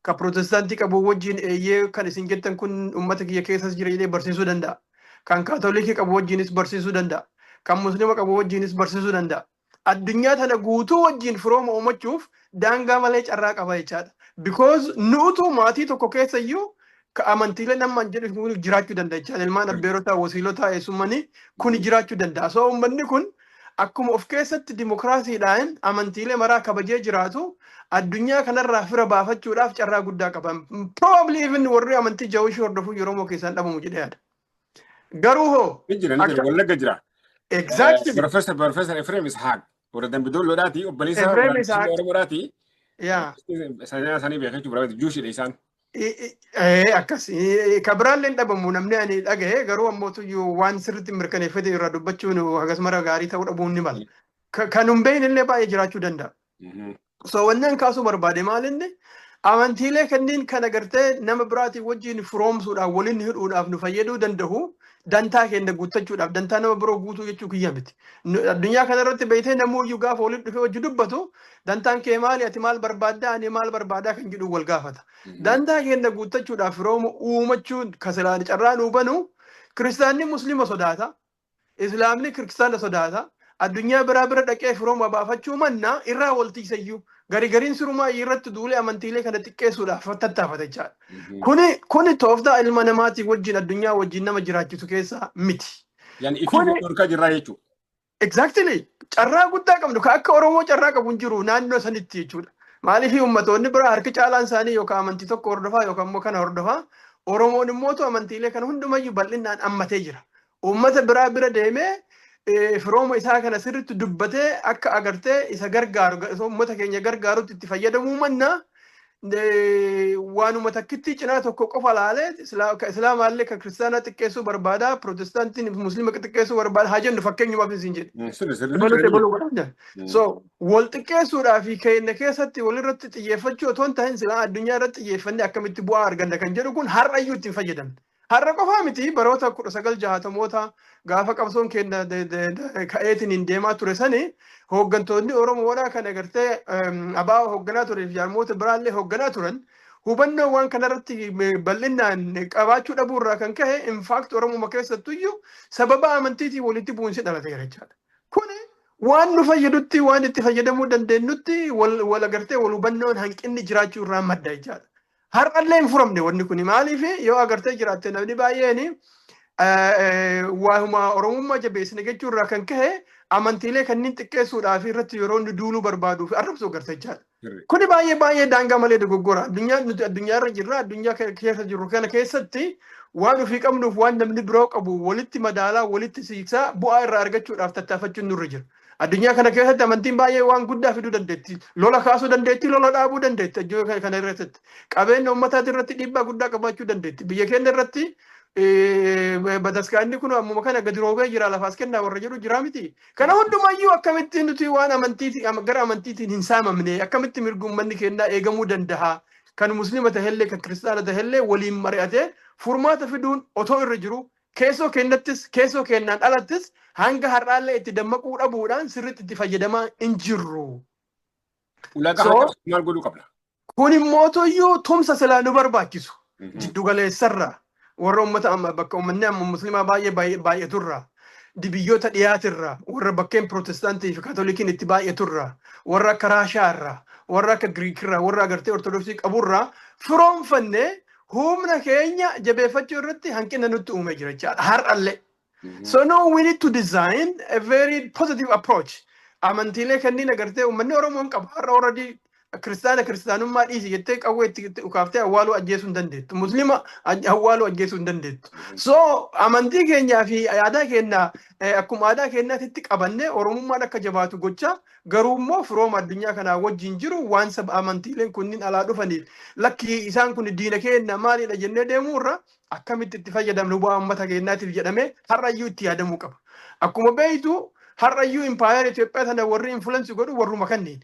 A: Kan Pirootestaantii qabu wajjin eeyyee kan isin jettan kun uummata kiyya keessas jira jedhee barsiisuu danda'a. Kan Kaatolikii qabu wajjinis barsiisuu danda'a. Kan Musliima qabu wajjinis barsiisuu danda'a. addunyaa tana guutuu wajjiin firooma uumachuuf daangaa malee carraa qaba jechaadha. Because nu'utu maatii tokko keessa iyyuu ka amantiileen amma an jedhu kun jiraachuu danda'a jechaadha. Ilmaan abbeerotaa, wasiilotaa, eessummanii kun jiraachuu danda'a. So uummanni kun akkuma of keessatti dimokiraasiidhaan amantiilee maraa kabajee jiraatu addunyaa kanarraa fira baafachuudhaaf carraa guddaa qaba. Probably even warri amantii Jawishii hordofuu Oromoo keessaan dhabamu jedhee yaada. Garuu hoo Ni jira, ni jira, Akka- wallagga jira.
B: exactly
A: Professor, Professor
B: Ephraim Ishaq, warra Dambidoolloodhaati, obboleessa Ephraim warra Ishaq. Dambidoollo Oromoodhaati. yeah.
A: Sanaa isaanii
B: beekaa jechuudha, barbaadu, Juushidha isaan. I- i- ee,
A: akkas Ee, ka biraallee hin dhabamu namni ani dhagahe garuu ammoo tuyyuu waan sirriitti mirkaneeffate irraa dubbachuun hagas mara gaarii ta'uu dhabuun ni mala. Ka- Kan hin beekne illee baay'ee jiraachuu danda'a. So wanneen kaasuu barbaade maal inni amantiilee kanneen kan agartee nama biraatiin wajjin firoomsuudhaaf waliin hidhuudhaaf nu fayyaduu danda'u dantaa keenya guuttachuudhaaf dantaa nama biroo guutuu jechuu kiyya miti. Nu- Addunyaa kana irratti beektee namoonni gaafa waliin dhufee wajjin dubbatu dantaan kee maali ati maal barbaaddaa ani maal barbaadaa kan jedhu wal gaafata. Dantaa keenya guuttachuudhaaf firooma uumachuun kasalaan carraa nuu banu kiristaanni musliima sodaata. Islaamni Kirkstaana sodaata. Addunyaa biraa bira dhaqee firooma baafachuu manna irraa wal tiisayyuu garigariin sirumaa irratti duulee amantiilee kana xiqqeessuudhaaf tattaafata jechaadha. Mhm. Kuni kuni tooftaa ilma namaatii wajjin addunyaa wajjin nama jiraachisu keessaa miti. Yani ifii Kuni-
B: dhorkaa jirraa jechuudha. Exactly.
A: Carraa guddaa qabdu ka akka Oromoo carraa qabu hin jiru naannoo sanitti jechuudha. Maaliif ummatoonni biraa harki caalaan isaanii yookaan amantii tokko hordofaa yookaan immoo kana hordofaa Oromoon immoo amantiilee kana hundumayyuu bal'inaan ammatee jira. Uummata biraa bira deemee firooma isaa kana sirriitti dubbatee akka agartee isa gargaaru uummata keenya gargaarutti itti fayyadamuu manna waanuma takkittii cinaa tokko qofa laalee ka islaamaallee ka kiristaanaa xiqqeessuu barbaada pirootestaantiin fi musliima xiqqeessuu barbaada haa jennu fakkeenyumaaf isin jedhe. So wal xiqqeessuudhaa fi keenya keessatti walirratti xiyyeeffachuu otoo hin tahin silaa addunyaa irratti xiyyeeffannee akkamitti bu'aa arganna kan jedhu kun har'ayyuu ittiin fayyadamne. Har'a qofaa miti baroota 1960moota gaafa qabsoon keenya ka'eetiin deemaa ture sani hooggantoonni Oromoodhaa kan agartee abaa hoogganaa turee fi jaarmoota biraallee hoogganaa turan hubannoo waan kanarratti bal'inaan qabaachuu dhabuu irraa kan ka'e infaakti Oromuma keessattuyyuu sababa amantiitiin walitti bu'insi dhalateera jechaadha. Kuni waan nu fayyadutti waan itti fayyadamuu dandeenyutti wal agartee wal hubannoon hanqinni jiraachuu irraa madda jechaadha. Har'allee hin furamne wanni kun maaliif yoo agartee jiraatte namni baay'een waa'uma Oromummaa jabeessine jechuu irraa kan ka'e amantiilee kanneen xiqqeessuudhaa fi irratti yeroo inni duuluu barbaaduu fi arrabsuu agartee jira. Kuni baay'ee baay'ee daangaa malee dogoggora. Addunyaa nuti addunyaa irra jirra addunyaa keessa jirru kana keessatti waan ofii qabnuuf waan namni biroo qabu walitti madaalaa walitti siiksaa bu'aa irraa argachuudhaaf tattaafachuun nurra jira. Addunyaa kana keessatti amantiin baay'ee waan guddaa fiduu dandeetti. Lola kaasuu dandeetti, lola dhaabuu dandeetti addunyaa kana irratti. Qabeenya uummataa irratti dhiibbaa guddaa qabaachuu dandeetti. Biyya keenya irratti bataskaanni kun ammuma kana gadi roobee jira lafaas kennaa warra jedhu jira miti. Kana hundumayyuu akkamitti nuti waan amantiitiin gara amantiitiin hin saamamne akkamitti mirgi uummanni kennaa eegamuu danda'a. Kan musliima ta'ellee kan kiristaana ta'ellee waliin mari'atee furmaata fiduun otoo irra jiru Keessoo keennattis, keessoo keennaan alattis hanga har'aallee itti dammaquu dhabuudhaan sirriitti itti fayyadamaa hin jirru. Ulaagaa So- kana cabsuuf
B: maal godhuu qabna? Kun immoo
A: toyyuu tumsa silaa nu barbaachisu. Mhm. Jiddugaleessarra warra uummata amma bakka uummanni amma musliimaa baay'ee baay'ee- baay'aturra biyyoota dhiyaatirra warra bakkeen pirootestaantii fi kaatolikiin itti baay'aturra warra akka raashaarra warra akka giriikirra warra agartee ortodoksii qaburra firoomfanne humna keenya jabeeffachuu irratti hanqina nutti uumee jira jechaadha har'allee. So no, we need to design a very positive approach. Amantiilee kanneen agartee uummanni Oromoon qabu har'a already kiristaana kiristaanummaa dhiisi jettee qawwee itti itti ukaaftee awwaaluu ajjeesuu hin dandeettu. Musliima aj- awwaaluu ajjeesuu hin dandeettu. So amantii keenyaa fi aadaa keenya eh, akkuma aadaa keenyaatti itti qabannee Oromummaan akka jabaatu gochaa Garuu immoo firooma addunyaa kanaa wajjin jiru waan saba amantiileen kunniin alaa dhufaniif lakki isaan kun diina keenna maalidha jennee deemuu irra akkamitti itti fayyadamnu bu'aa uummata keennaatiif jedhamee har'a iyyuu itti yaadamuu qaba. Akkuma beektu har'a iyyuu impaayera Itoophiyaa tana warri influence godhu warruma kanniin.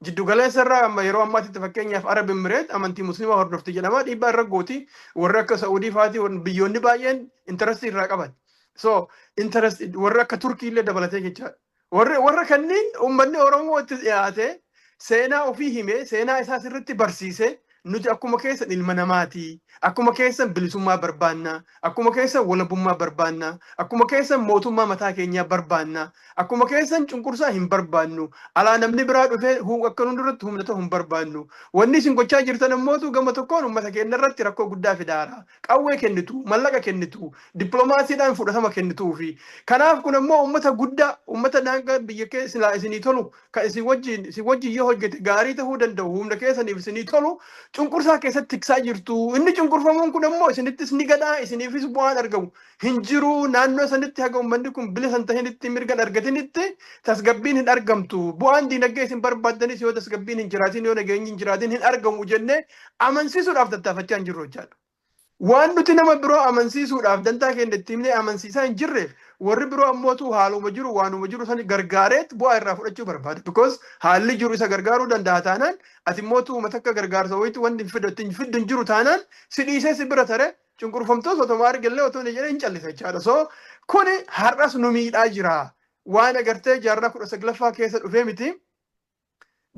A: Jiddu galeessa irraa amma yeroo ammaatitti fakkeenyaaf Arab Emmireet amantii Musliimaa hordofti jedhama dhiibbaa irra gooti warri akka Sa'uudii faati warri- biyyoonni baay'een interest irraa qaban. So interest warri akka Turkii illee dabalatee jechaadha. Warra warra kanneen uummanni Oromoo itti dhiyaatee seenaa ofii himee seenaa isaa sirriitti barsiisee nuti akkuma keessan ilma namaati. Akkuma keessan bilisummaa barbaanna. Akkuma keessan walabummaa barbaanna. Akkuma keessan mootummaa mataa keenyaa barbaanna. Akkuma keessan cunqursaa hin barbaannu. Alaa namni biraa dhufee hu- akka nu duratti humna ta'u hin barbaannu. Wanni isin gochaa jirtan ammootu gama tokkoon uummata keenya irratti rakkoo guddaa fidaara. qawwee kennitu, mallaqa kennitu, diplomaasiidhaan fudhatama kennituufi. Kanaaf kun ammoo uummata guddaa, uummata daangaan biyya kee silaa isinii tolu, kan isin wajjin isin wajjin yoo hojjete gaarii tahuu danda'u, humna keessaniif isinii tolu cunqursaa keessatti tiksaa jirtu. Inni cunqurfamuun kun ammoo isinittis ni gala, isiniifis bu'aan argamu hin jiru. Naannoo sanitti haga uummanni kun bilisa hin tahinitti, mirga hin argatinitti tasgabbiin hin argamtu. Bu'aan diinagdee isin barbaaddanis yoo tasgabbiin hin jiraatin, yoo nageenyi hin jiraatin hin argamu jennee Amansiisuudhaaf tattaafachaa hin jirru hojjaadhu. Waan nuti nama biroo amansiisuudhaaf dantaa keenya itti himnee amansiisaa hin jirreef warri biroo ammootu haaluma jiru waanuma jiru san gargaareet bu'aa irraa fudhachuu barbaada. Because haalli jiru isa gargaaruu danda'a taanaan ati mootu uummata akka gargaarsa wayiitti wanti hin fiddu itti hin fiddu hin jiru taanaan si dhiisee si bira tare cunqurfamtoos otoma argellee otoo hin jedhee hin callisa jechaadha. So kuni har'as nu miidhaa jira. Waan agartee jaarraa kudha saglaffaa keessa dhufee miti.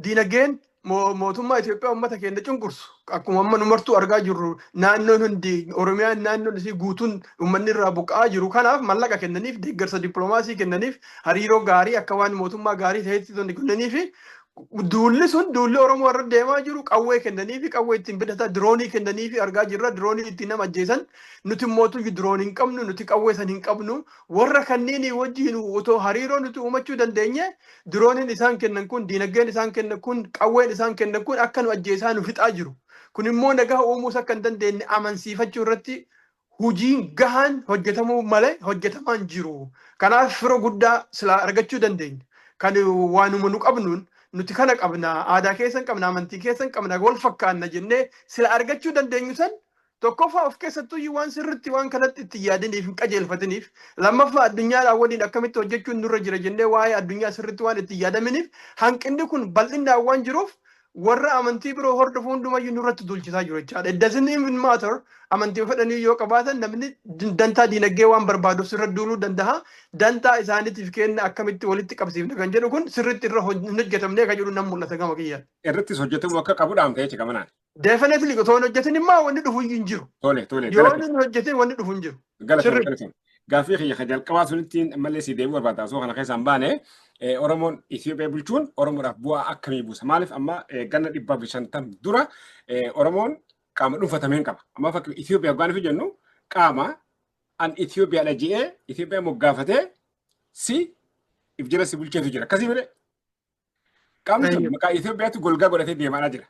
A: Diinagdeen mootummaa Itoophiyaa uummata keenya cunqursu akkuma amma nu martuu argaa jirru naannoon hundi Oromiyaan naannoon isii guutuun uummanni irraa buqqa'aa jiru kanaaf mallaqa kennaniif deeggarsa dippiloomaasii kennaniif hariiroo gaarii akka waan mootummaa gaarii ta'etti tonni kennanii fi duulli sun duulli Oromoo irra deemaa jiru qawwee kennanii fi qawwee ittiin bitataa diroonii kennanii fi argaa jirra diroonii ittiin nama ajjeesan nuti mootu diroon hin qabnu nuti qawwee san hin qabnu warra kanniinii wajjin otoo hariiroo nuti uumachuu dandeenye Dirooniin isaan kennan kun, diinagdeen isaan kennan kun, qawween isaan kennan kun akka nu ajjeesaa nu fixaa jiru. Kun immoo nagaa uumuus akka hin dandeenye amansiifachuu irratti hojiin gahaan hojjetamuu malee hojjetamaa hin jiru. Kanaaf firo guddaa silaa argachuu dandeenya. Kan waanuma nu qabnuun nuti kana qabna, aadaa keessan qabna, amantii keessan qabna, wal fakkaanna jennee sila argachuu dandeenyu san Tokkoffaa of keessattuyyuu waan sirriitti waan kanatti itti hin yaadiniif hin qajeelfatiniif lammaffaa addunyaadhaan waliin akkamitti hojjechuun nurra jira jennee waa'ee addunyaa sirriitti waan itti hin yaadaminiif hanqinni kun bal'inaan waan jiruuf warra amantii biroo hordofu hundumayyuu nurratti duulchisaa jiru jechaadha. It doesn't even matter amantii fedhanii yoo qabaatan namni din- dantaa diinagdee waan barbaaduuf sirra duuluu danda'a. Dantaa isaaniitiif kenna akkamitti walitti qabsiifna kan jedhu kun sirriitti irra hoj- hin hojjetamnee kan jedhu nan mul'ata gama kiyyaan. Irrattis hojjetamuu akka
B: qabu dhaamta jecha gamanaan. Definitely otoo hin
A: hojjetin immoo wanni dhufu iyyuu hin jiru. Tole tole Yoo galata hin hojjetin wanni dhufu hin jiru. galata sirri. galata.
B: Gaaffii kiyya kan jalqabaa sunitti ammallee si deebi'uu barbaada osoo kana keessaan baane eh, Oromoon Itoophiyaa bulchuun Oromoodhaaf bu'aa akkamii buusa? Maaliif amma eh, ganna dhibba fi shantam dura eh, Oromoon qaama dhuunfatameen qaba. Amma fakki Itoophiyaa hoggaan fi jennu qaama an Itoophiyaadha je'ee Itoophiyaa moggaafatee si if jala si bulcheetu jira. Akkasii malee Qaamni sun maqaa Itoophiyaatti golgaa godhatee deemaa jira.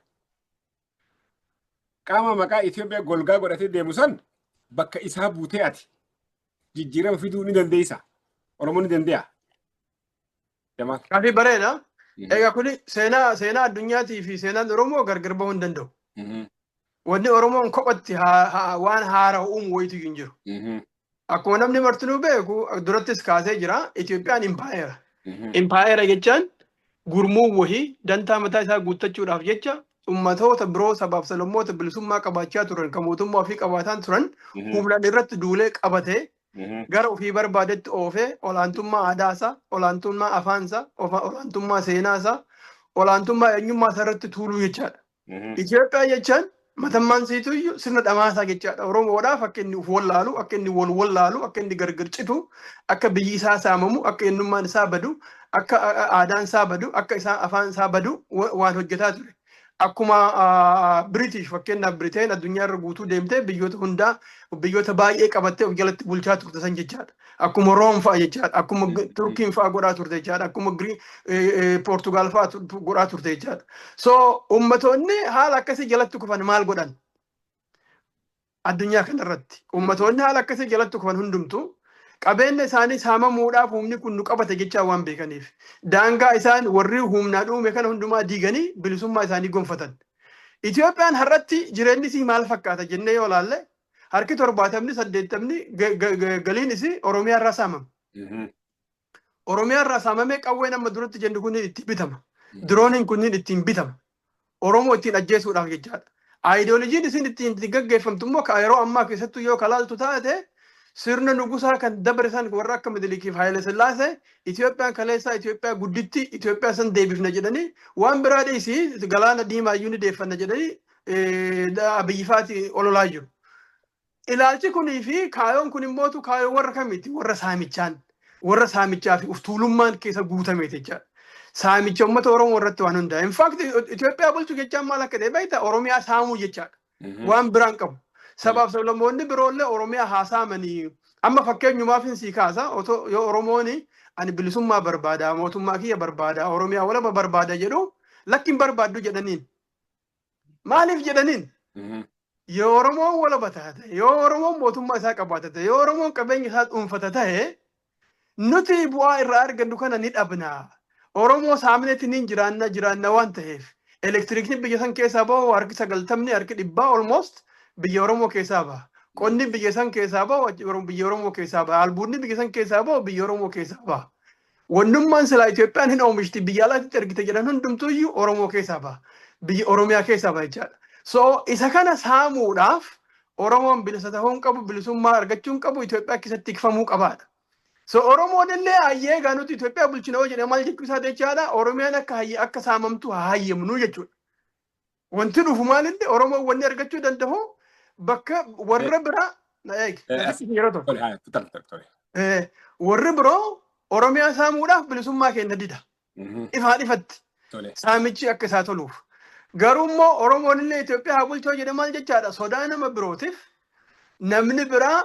B: Qaama maqaa Itoophiyaa golgaa godhatee deemu san bakka isaa buutee ati jijjiirama fiduu ni dandeessa. Oromoo ni dandeenya. Jamaal. Kaafii
A: bareeda. Egaa kun seenaa seenaa addunyaatii fi seenaan Oromoo gargar bahuu hin danda'u. Wanni Oromoon kophatti haa- haa- waan haarawa uumu wayitu hin jiru. Mhm. Akkuma namni martinuu beeku durattis kaasee jira Itoophiyaan impaayera. Mhm. Impaayera jechaan gurmuu wahii dantaa mataa isaa guuttachuudhaaf jecha ummatoota biroo sabaaf sablammoota bilisummaa qabaachaa turan kan mootummaa ofii qabaataan turan Mhm. humnaan irratti duulee qabatee Mhm. gara ofii barbaadetti oofee olaantummaa aadaasaa, olaantummaa afaansaa, ofa- olaantummaa seenaasaa, olaantummaa eenyummaasaa irratti tuuluu jechaadha. Itoophiyaa jechaan matammaan siitu iyyuu sirna dhamaasaa jechaadha. Oromoodhaaf akka inni of wallaalu, akka inni wal wallaalu, akka inni gargar citu, akka biyyi isaa saamamu, akka eenyummaan isaa badu, akka aadaan isaa badu, akka isaa afaan isaa badu waan hojjetaa ture. Akkuma Biritish fakkeenyaaf Biriteen addunyaa irra guutuu deemtee biyyoota hundaa biyyoota baay'ee qabattee of jalatti bulchaa turte san jechaadha. Akkuma Room fa'a jechaadha. Akkuma G- Mm. Turkiin fa'a godhaa turte jechaadha. Akkuma Gri- eh, eh, Poortugaal fa'a tu- tu- godhaa turte jechaadha. So ummatoonni haala akkasii jalatti kufan maal godhan? Addunyaa kanarratti ummatoonni haala akkasii jalatti kufan hundumtu qabeenya isaanii saamamuudhaaf humni kun nu qabate jechaa waan beekaniif daangaa isaan warri humnaa dhuume kana hundumaa diiganii bilisummaa isaanii gonfatan. Itoophiyaan har'atti jireenyi isii maal fakkaata jennee yoo ilaalle harki torbaatamni saddeettamni ga- ga- ga- galiin isii Oromiyaa irraa saamama. Mhm. Oromiyaa irraa saamamee qawween amma duratti jennu kunniin ittiin bitama. Mhm. Dirooniin kunniin ittiin bitama. Oromoo ittiin ajjeesuudhaaf jechaadha. Aayidoolojiin isin ittiin ittiin gaggeeffamtu immoo ka yeroo ammaa keessattuu yoo kalaaltu taate sirna nugusaa kan dabre san warra akka Midilikiif Haayile Sillaasee Itoophiyaan kaleessaa Itoophiyaa gudditti Itoophiyaa san deebifna jedhanii waan biraa dhiisii galaana diimaa iyyuu ni deeffanna jedhanii Abiyyifaati ololaa jiru. Ilaalchi kunii fi kaayoon kun immoo kaayoo warra kamiiti? Warra saamichaan, warra saamichaa fi uftuulummaan keessa guutame jechaadha. Saamicha uummata Oromoo irratti waan hundaa'e. In fact Itoophiyaa bulchu jechaan maal akka ta'e beektaa? Oromiyaa saamuu jechaadha. Waan biraan qabu. Sabaaf sablammoonni biroollee Oromiyaa haa saamanii. Amma fakkeenyumaaf hin sii kaasa otoo yoo Oromooni ani bilisummaa barbaada mootummaa kiyya barbaada Oromiyaa walaba barbaada jedhu lakki hin barbaaddu jedhaniin. Maaliif jedhaniin Mhm. yoo Oromoon walaba taate, yoo Oromoon mootummaa isaa qabaata ta'e, yoo Oromoon qabeenya isaa dhuunfata ta'e, nuti bu'aa irraa argannu kana ni dhabna. Oromoo saaminetti ni jiraanna jiraanna waan ta'eef. Elektiriikni biyya san keessaa bahu harki sagaltamni harki dhibbaa almost biyya Oromoo keessaa baha. Qonni biyya san keessaa bahu achi Oro- biyya Oromoo keessaa baha. Albuudni biyya san keessaa bahu biyya Oromoo keessaa baha. Wannummaan silaa Itoophiyaan hin oomishti biyya alaatti ergite jedhan hundumtuu iyyuu Oromoo keessaa baha. Biyya Oromiyaa keessaa baha jechaadha. So isa kana saamuudhaaf Oromoon bilisa ta'uu hin qabu, bilisummaa argachuu hin qabu, Itoophiyaa keessatti tikfamuu qabaadha. So Oromoon illee hayyee egaa nuti Itoophiyaa bulchina yoo jedhe maal jechuu isaa jechaadha Oromiyaan akka hayye akka saamamtu haa hayyamnu jechuudha. Wanti dhufu maalinni Oromoon wanni argachuu danda'u bakka warra biraa na eegi na dhiisni yeroo tokko. Tole, haa, tole, tole, tole. Eh, Warri biroo Oromiyaa saamuudhaaf bilisummaa keenya dida. Mhm, Ifaa dhifatti Tole. saamichi akka isaa toluuf. Garuu immoo Oromoon illee Itoophiyaa haa bulchoo jedhe maal jechaadha? Sodaa nama birootiif Namni biraa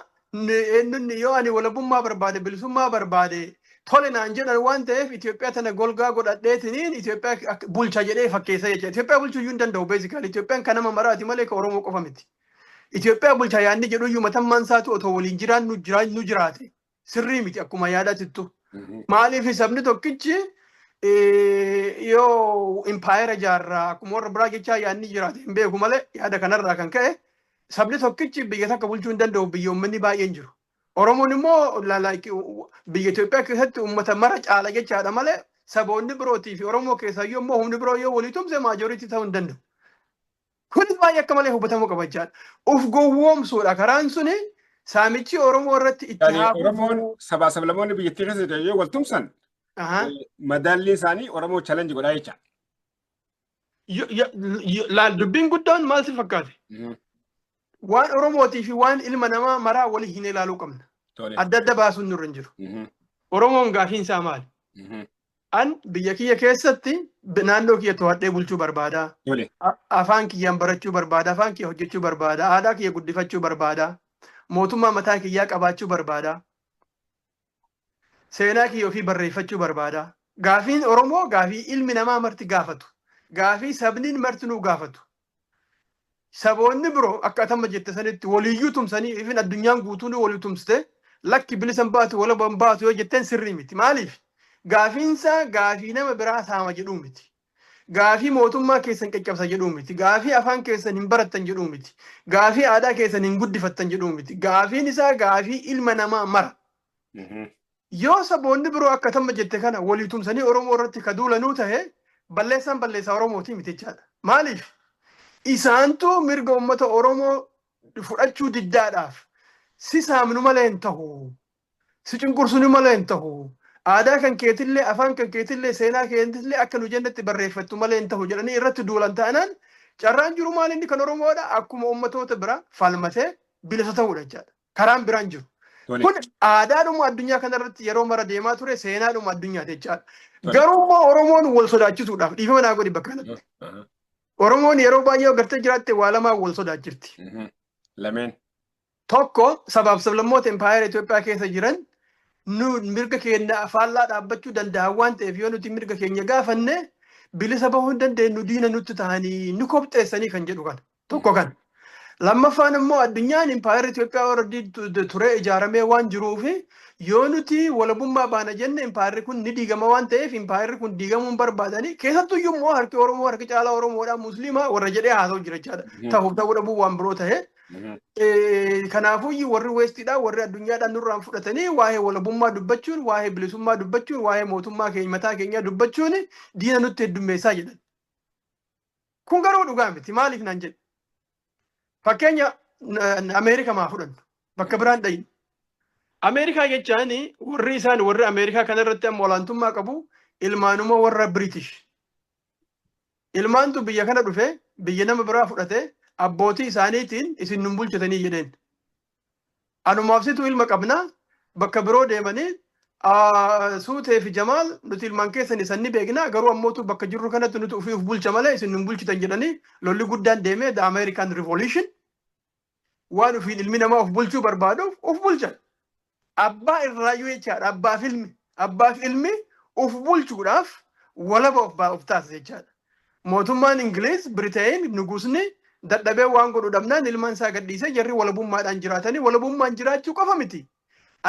A: eenyunni yoo ani walabummaa barbaade bilisummaa barbaade tole naan jedhan waan ta'eef Itoophiyaa tana golgaa godhadheetiniin Itoophiyaa bulcha jedhee fakkeessa jecha. Itoophiyaa bulchuu iyyuu hin danda'u beezikaali. Itoophiyaan kan nama maraati malee kan Oromoo qofa miti. Itoophiyaa bulcha yaadni jedhu iyyuu matammaan isaatu otoo waliin jiraannu jiraannu jiraate. sirrii miti akkuma yaadatittu. Maaliif sabni tokkichi yoo impaayera ijaarraa akkuma warra biraa jechaa yaadni jiraate hin beeku malee yaada kanarraa kan ka'e sabni tokkichi biyya takka bulchuu hin danda'u biyya uummanni baay'een jiru. Oromoon immoo biyya Itoophiyaa keessatti uummata mara caala jechaadha malee saboonni birootii fi Oromoo keessaayyuu immoo humni biroo yoo walii tumse maajooriitii ta'uu hin danda'u. Kunis baay'ee akka malee hubatamuu qaba jechaadha. Uf gowwoomsuudha karaan suni saamichi Oromoo irratti itti Yaani haa Oromoon fufuu. sabaa
B: sablamoonni biyyattii keessa jiran yoo wal tumsan Ahaa. eh, madaalliin isaanii Oromoo challenge godhaa jecha. Yo- yo-
A: yo- Laal dubbiin guddaan maal si fakkaate? Mhm. Waan Oromootii fi waan ilma namaa maraa wali hin ilaaluu qabna. Tole. Adda adda baasuun nurra hin jiru. Mhm. Oromoon gaafiin isaa maali? Mhm. An biyya kiyya keessatti b- naannoo kiyya to'adhee bulchuu barbaada. Tole. A- Afaan kiyyaan barachuu barbaada. Afaan kiyya hojjechuu barbaada. Aadaa kiyya guddifachuu barbaada. Mootummaa mataa kiyyaa qabaachuu barbaada. seenaa kiyya ofii barreeffachuu barbaada. Gaafiin Oromoo gaafii ilmi namaa marti gaafatu. Gaafii sabniin martinuu gaafatu. Saboonni biroo akka atamma jette sanitti waliyyuu tumsanii ifin addunyaan guutuun walii tumsite lakki bilisan baatu walaban baatu yoo jetteen sirrii miti. Maaliif? Gaafiinsaa gaafii nama biraa saama jedhuu miti. Gaafii mootummaa keessan caccabsa jedhuu miti. Gaafii afaan keessan hin barattan jedhuu miti. Gaafii aadaa keessan hin guddifattan jedhuu miti. Gaafiin isaa gaafii ilma namaa mara. Yoo saboonni biroo akka tamma jette kana walii tumsanii Oromoo irratti ka duulanuu tahe balleessaan balleessaa Oromootii miti jechaadha. Maaliif? Isaantu mirga uummata Oromoo fudhachuu diddaadhaaf si saamnu malee hin tahu. Si cunqursuni malee hin tahu. Aadaa kan keetillee, afaan kan keetillee, seenaa keetillee akka nu jennetti barreeffattu malee hin tahu jedhanii irratti duulan taanaan carraan jiru maal inni kan Oromoodha akkuma uummatoota biraa falmatee bilisa ta'uudha jechaadha. Karaan biraan jiru. Tole. Kun aadaadhuma addunyaa kanarratti yeroo mara deemaa ture seenaadhuma addunyaati jechaadha. Tole. Garuu immoo Oromoon wal sodaachisuudhaaf dhiifama naa godhi bakka kanatti. Aha. Oromoon yeroo baay'ee gartee jiraatte waa lamaan wal sodaachifti. Mhm. Lameen.
B: Tokko
A: sabaaf sablammoota impaayera Itoophiyaa keessa jiran nu mirga keenya faallaa dhaabbachuu danda'an waan ta'eef yoo nuti mirga keenya gaafanne bilisa bahuu hin dandeenyu diina nutti ta'anii nu kopxeessanii kan jedhu kana. Tokko kana. Lammaffaan immoo addunyaan impaayera Itoophiyaa warra turee ijaaramee waan jiruuf yoo nuti walabummaa baana jenne impaayerri kun ni diigama waan ta'eef impaayerri kun diigamuu hin barbaadanii keessattuu iyyuu immoo harki Oromoo harki caalaa Oromoodhaa musliimaa warra jedhee haasa'u jira jechaadha. Ta'uuf ta'uu dhabuu waan biroo ta'ee. Kanaafuu warri weestiidhaa warri addunyaadhaa nurraan fudhatanii waa'ee walabummaa dubbachuun waa'ee bilisummaa dubbachuun waa'ee mootummaa keenya mataa keenyaa dubbachuun diina nutti heddummeessaa jedhan. Kun garuu dhugaa miti maaliif naan jedhe. Fakkeenya Ameerika maa fudhannu bakka biraan dhayin. Ameerikaa jechaan warri isaan warri Ameerikaa kanarratti amma olaantummaa qabu ilmaanuma warra Biritish. Ilmaantu biyya kana dhufe, biyya nama biraa fudhate, abbootii isaaniitiin isin nun bulchitanii jedheen. Anumaaf situ ilma qabna, bakka biroo deemanii ah, suutee fi jamaal nuti ilmaan keessan isan ni beekna garuu ammootu bakka jirru kanatti nuti ofii of bulcha malee isin nun bulchitan jedhanii lolli guddaan deemee the American Revolution waan ofiin ilmi namaa of bulchuu barbaaduuf of bulchan. Abbaa irraayyuu jechaadha. Abbaaf ilmi. Abbaaf ilmi of bulchuudhaaf walaba of baa- of taasisa jechaadha. Mootummaan Ingiliiz, Biriteen, Nugusni dadhabee waan godhu dhabnaan ilmaan isaa gadhiisee jarri walabummaadhaan jiraatanii walabummaan jiraachuu qofa miti.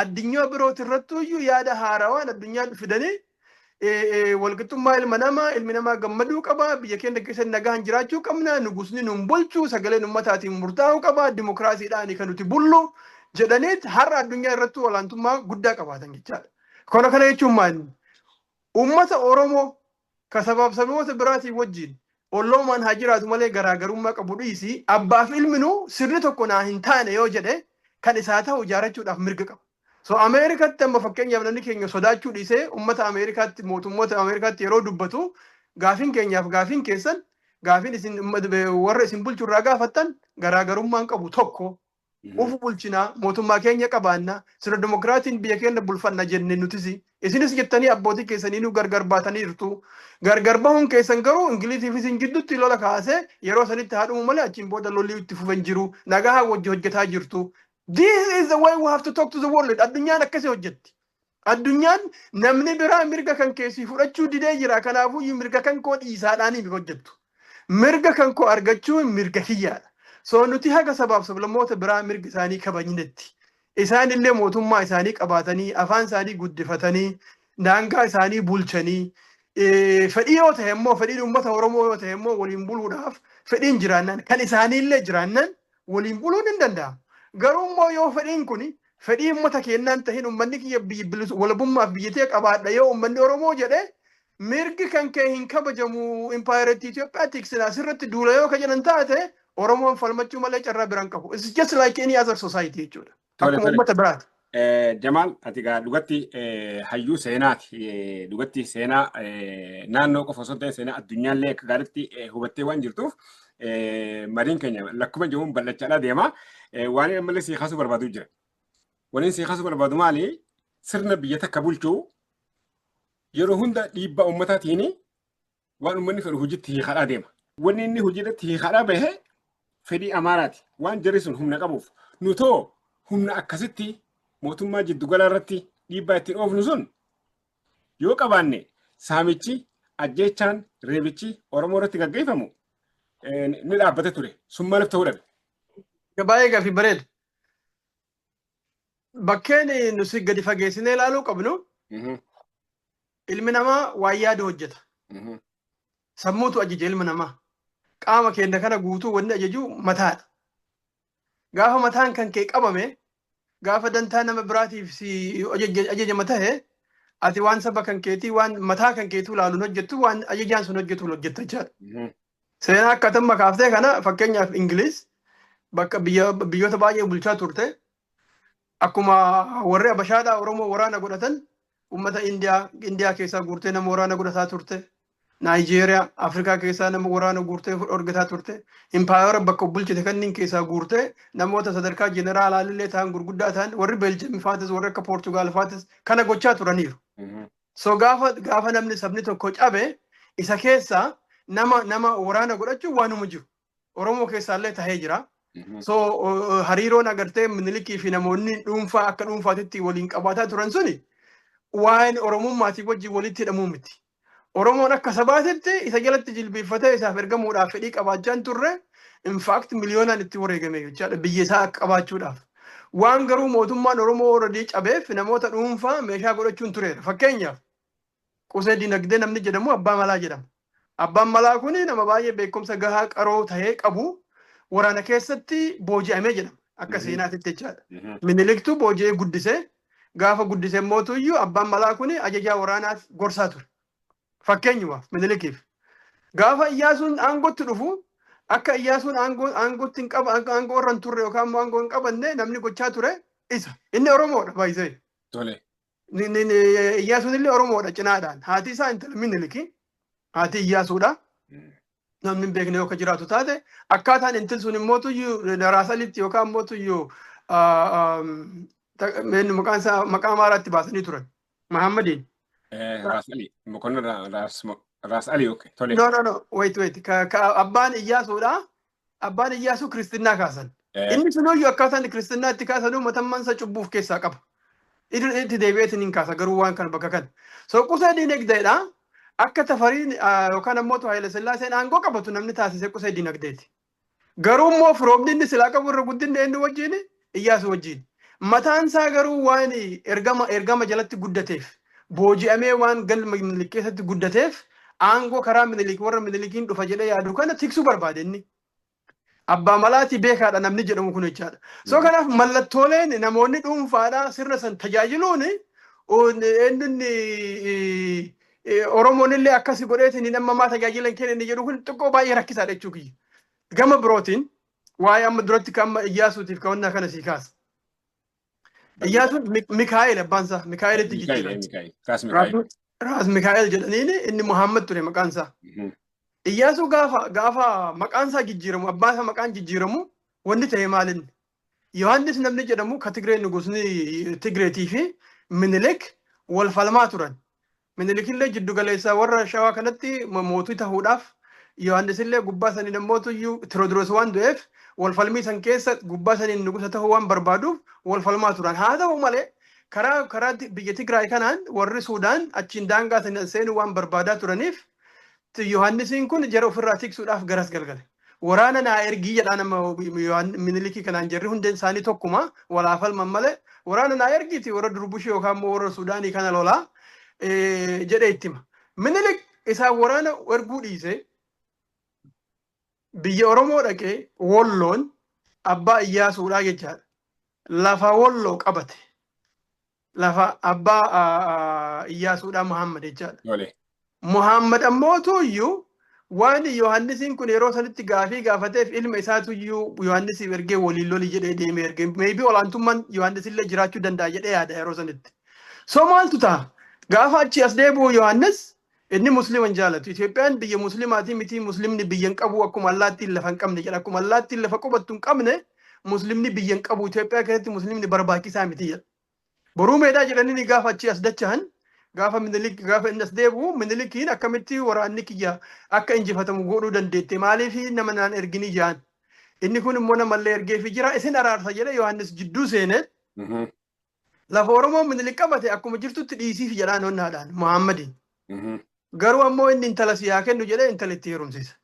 A: Addunyaa birooti irrattuyyuu yaada haarawaan addunyaatti fidanii walqixxummaa ilma namaa ilmi namaa gammaduu qaba biyya keenya keessatti nagaan jiraachuu qabna nugusni nun bulchu sagaleen ummataatiin murtaa'uu qaba dimokiraasiidhaan kan nuti bullu jedhaniit har'a addunyaa irratti olaantummaa guddaa qabaatan jechaadha. Kana kana jechuun maal? Uummata Oromoo ka sabaaf saboota biraatiin wajjiin olloomaan haa jiraatu malee garaa garummaa qabu dhiisii abbaaf ilminuu sirni tokko naa hin taane yoo jedhe kan isaa ta'u ijaarachuudhaaf mirga qaba. So Ameerikaatti amma fakkeenyaaf namni keenya sodaachuu dhiisee uummata Ameerikaatti mootummoota Ameerikaatti yeroo dubbatu gaafiin keenyaaf gaafiin keessan gaafiin isin warra isin bulchu irraa gaafattan garaagarummaan qabu tokko Of bulchina, mootummaa keenya qabaanna, sirna dimokiraasiin biyya keenya bulfanna jenne nutis. Isinis jettanii abbootii keessaniinuu gargar baataniirtu. Gargar bahuun keessan garuu Ingilizii fi isin jidduutti lola kaasee yeroo sanitti haa dhumu malee achiin booda lolli itti fufe hin jiru. Nagahaan wajji hojjetaa jirtu. This is the way we have to talk to the world. Addunyaan akkasii hojjetti. Addunyaan namni biraa mirga kan kee sii fudhachuu didee jira kanaafuyyuu mirga kan koo dhiisaadhaanii miti hojjettu. Mirga kan koo argachuun mirga kiyyaadha. So nuti haga sabaaf sablammoota biraa mirga isaanii kabajnetti isaan illee mootummaa isaanii qabaatanii afaan isaanii guddifatanii daangaa isaanii bulchanii fedhii yoo ta'e immoo fedhiin uummata Oromoo yoo ta'e immoo waliin buluudhaaf fedhiin jiraannaan kan isaanii illee jiraannaan waliin buluun hin danda'amu. Garuu immoo yoo fedhiin kuni fedhii uummata keennaa hin tahin uummanni kiyya biyyi bilis- walabummaaf biyya tee qabaadha yoo uummanni Oromoo jedhe mirgi kan kee hin kabajamu impaayeratti Itoophiyaa tiksin asirratti duula yoo ka jedhan taate Oromoon falmachuu malee carraa biraa hin qabu. It's just like any other society jechuudha. Tole, Akkuma tole. uummata biraati. Eh, Jamaal
B: ati gaa dhugatti eh, hayyuu seenaati. Eh, Dhugatti seenaa eh, naannoo qofa osoo hin ta'in seenaa addunyaallee akka gaariitti eh, hubattee waan jirtuuf eh, mariin keenya lakkuma jiruun bal'achaadhaa deema. Eh, Waan inni ammallee sii kaasuu barbaadu jira. Waan inni sii kaasuu barbaadu maali? Sirna biyya takka bulchuu yeroo hunda dhiibbaa uummataatiin waan uummanni fedhu hojiitti hiikadhaa deema. Wanni inni hojiirratti hiikadhaa bahe fedhii Amaaraati. Waan jarri sun humna qabuuf. Nutoo humna akkasitti mootummaa jiddugalaa irratti dhiibbaa ittiin oofnu sun yoo qabaanne saamichi, ajjeechaan, reebichi Oromoo irratti gaggeeffamu ni dhaabbata ture. Sun maaliif ta'uu dhabe? Baay'ee
A: gaaffii bareeda. Bakkeen nuti gadi fageessinee ilaaluu qabnu Ilmi namaa waan yaadu hojjeta. Mhm. Sammuutu ajaja ilma namaa. Qaama keenya kana guutuu wanni ajaju mataadha. Gaafa mataan kan kee qabame, gaafa dantaa nama biraatiif si ajaja- ajajama tahe, ati waan saba kan keetii, waan mataa kan keetuu laaluun hojjettu, waan ajajaan sun hojjetuun hojjetta jechaadha. Mhm. Seenaa akka tamma kaaftee kana fakkeenyaaf Ingiliiz bakka biyya- biyyoota baay'ee bulchaa turte, Akkuma warri Abashaadhaa Oromoo waraana godhatan uummata Indiyaa Indiyaa keessaa guurtee nama waraana godhataa turte. Naayijeeriyaa Afrikaa keessaa nama waraana guurtee dhorgataa turte. Impaayera bakka bulchite kanneen keessaa guurtee namoota sadarkaa jeneraalaa illee ta'an gurguddaa ta'an warri Beeljiyeem faatis warri akka Poortugaal faatis kana gochaa turaniiru. So gaafa gaafa namni sabni tokko cabe isa keessaa nama nama waraana godhachuun waanuma jiru. Oromoo keessaallee tahee jira. So uh, hariiroon agartee minilikii fi namoonni dhuunfaa akka dhuunfaatitti waliin qabaataa turan suni waan Oromummaatii wajjin walitti hidhamuu miti. Oromoon akka sabaatitti isa jalatti jilbeeffatee isaaf ergamuudhaaf fedhii qabaachaan turre in fact miliyoonaan itti wareegame jechaadha biyya isaa akka qabaachuudhaaf. Waan garuu mootummaan Oromoo already cabeef namoota dhuunfaa meeshaa godhachuun tureera. Fakkeenyaaf Qusee Dinagdee namni jedhamu Abbaa Malaa jedhama. Abbaan Malaa kun nama baay'ee beekumsa gahaa qaroo ta'ee qabu waraana keessatti booji'amee jedhama. Akka seenaatitti jechaadha. Miniliktu booji'ee guddise. Gaafa guddise mootu iyyuu Abbaan Malaa kun ajajaa waraanaaf gorsaa ture. Fakkeenyumaaf Minilikiif. Gaafa Iyyaasuun aangootti dhufu akka Iyyaasuun aangootti hin qaba aangoo irra hin turre yookaan immoo aangoo hin qabanne namni gochaa ture isa. Inni Oromoodha baay'isee.
B: Ni- ni- ni-
A: Iyyaasuun illee Oromoodha cinaadhaan. Haati isaa intala Miniliki. Haati Iyyaasuudha. Namni hin beekne yoo akka jiraatu taate akkaataan intil sun immoo tuyyuu daraasanitti yookaan immoo tuyyuu ah, ah, ta- meenni maqaan isaa maqaa Amaaraatti baasanii turan. Mahaammadiin. Eh, Raas
B: Ali. Mokonnon Ra- Raas Mo- Raas Ali okay. Tole. No, no, no. Wait, wait.
A: Ka, ka abbaan Iyyaasuudha. abbaan Iyyaasuu kiristinnaa kaasan. Eh. Inni sunuyyuu akkaataa inni kiristinnaa itti kaasanuu matammaan isa cubbuu of keessaa qaba. Idil itti deebi'eetiin hin kaasa garuu waan kana bakka kana. So qusee diinagdeedha. Akka tafariin ah, yookaan ammoo tu Haayila Sillaaseen aangoo qabatu namni taasise qusee diinagdeeti. Garuu immoo firoomni inni silaa qabu irra guddinni eenyu wajjin Iyyaasuu wajjin. Mataan isaa garuu waan ergama ergama jalatti guddateef, booji'amee waan galma Minilik keessatti guddateef aangoo karaa Minilik warra Minilikiin dhufa jedhee yaadu kana tiksuu barbaade inni. Abbaa malaatii beekaadha namni jedhamu kun jechaadha. So kanaaf mallattooleen namoonni dhuunfaadhaa sirna san tajaajiluun eenyunni Oromoon illee akkasi godheetiin hin ammamaa tajaajilan kenna inni jedhu kun xiqqoo baay'ee rakkisaadha jechuu kiyya. Gama birootiin waa'ee amma duratti kan amma Iyyaasuutiif ka'annaa kana sii kaasa. Iyyaasuun Mi- Mikaa'el abbaan isaa Mikaa'elitti Mikaa'el, jijjiirame. Mikaa'el. Raas Mikaa'el. Raas- Raas Mikaa'el jedhaniin inni Muhammad ture maqaan isaa. Mhm. Iyyaasuu gaafa gaafa maqaan isaa jijjiiramu abbaan isaa maqaan jijjiiramu wanni ta'e maalin? Yohaannis namni jedhamu ka Tigree nugusni Tigreetii fi Minilik wal falmaa turan. Minilikillee jiddu galeessa warra Shawaa kanatti mootii tahuudhaaf Yohaannisillee gubbaa saniin ammootuyyuu Tiroodiroos waan du'eef wal falmii san keessa gubbaa saniin nugusa tahuu waan barbaaduuf wal falmaa turan. Haa tahu malee karaa karaa biyya Tigraay kanaan warri Suudaan achiin daangaa saniin seenuu waan barbaadaa turaniif T. Yohannisiin kun jara ofirraa tiksuudhaaf garas galgale. Waraana naa ergii jedhaan amma Yohaan- Minilikii kanaan jarri hundeen isaanii tokkuma wal haa falman malee waraana naa ergiiti warra Durbushii yookaan immoo warra Suudaanii kana lolaa eh, jedhee itti hima. Minilik isaan waraana erguu dhiisee biyya Oromoo dhaqee Wolloon abbaa Iyyaasuudhaa jechaadha. Lafa Wolloo qabate. Lafa abbaa Iyyaasuudhaa Muhammad jechaadha. Tole. Muhammad ammoo tuyyuu waan Yohaannisiin kun yeroo sanitti gaafii gaafateef ilma isaa tuyyuu Yohaannisiif ergee waliin loli jedhee deemee ergee meebii olaantummaan Yohaannisillee jiraachuu danda'a jedhee yaada yeroo sanitti. So maaltu ta'a? Gaafa achi as deebi'u Yohaannis inni musliima hin jaalatu. Itoophiyaan biyya musliimaatii miti musliimni biyya hin qabu akkuma allaattiin lafa hin qabne jedha. Akkuma allaattiin lafa qubattu hin qabne musliimni biyya hin qabu Itoophiyaa keessatti musliimni barbaachisaa miti jedha. Boruu meedaa jedhanii gaafa achi as dachahan gaafa minilik gaafa inni as deebi'u minilikiin akkamitti waraanni kiyya akka injifatamu godhuu dandeette maaliif nama naan ergini jaan inni kun immoo namallee ergeefi jira isin araarsa jedhe Yohaannis jidduu seene lafa Oromoo minilik qabate akkuma jirtutti dhiisiif jedhaan onnaadhaan Muhammadiin garuu ammoo inni intala si haa kennu jedhee intala itti heerumsiisa.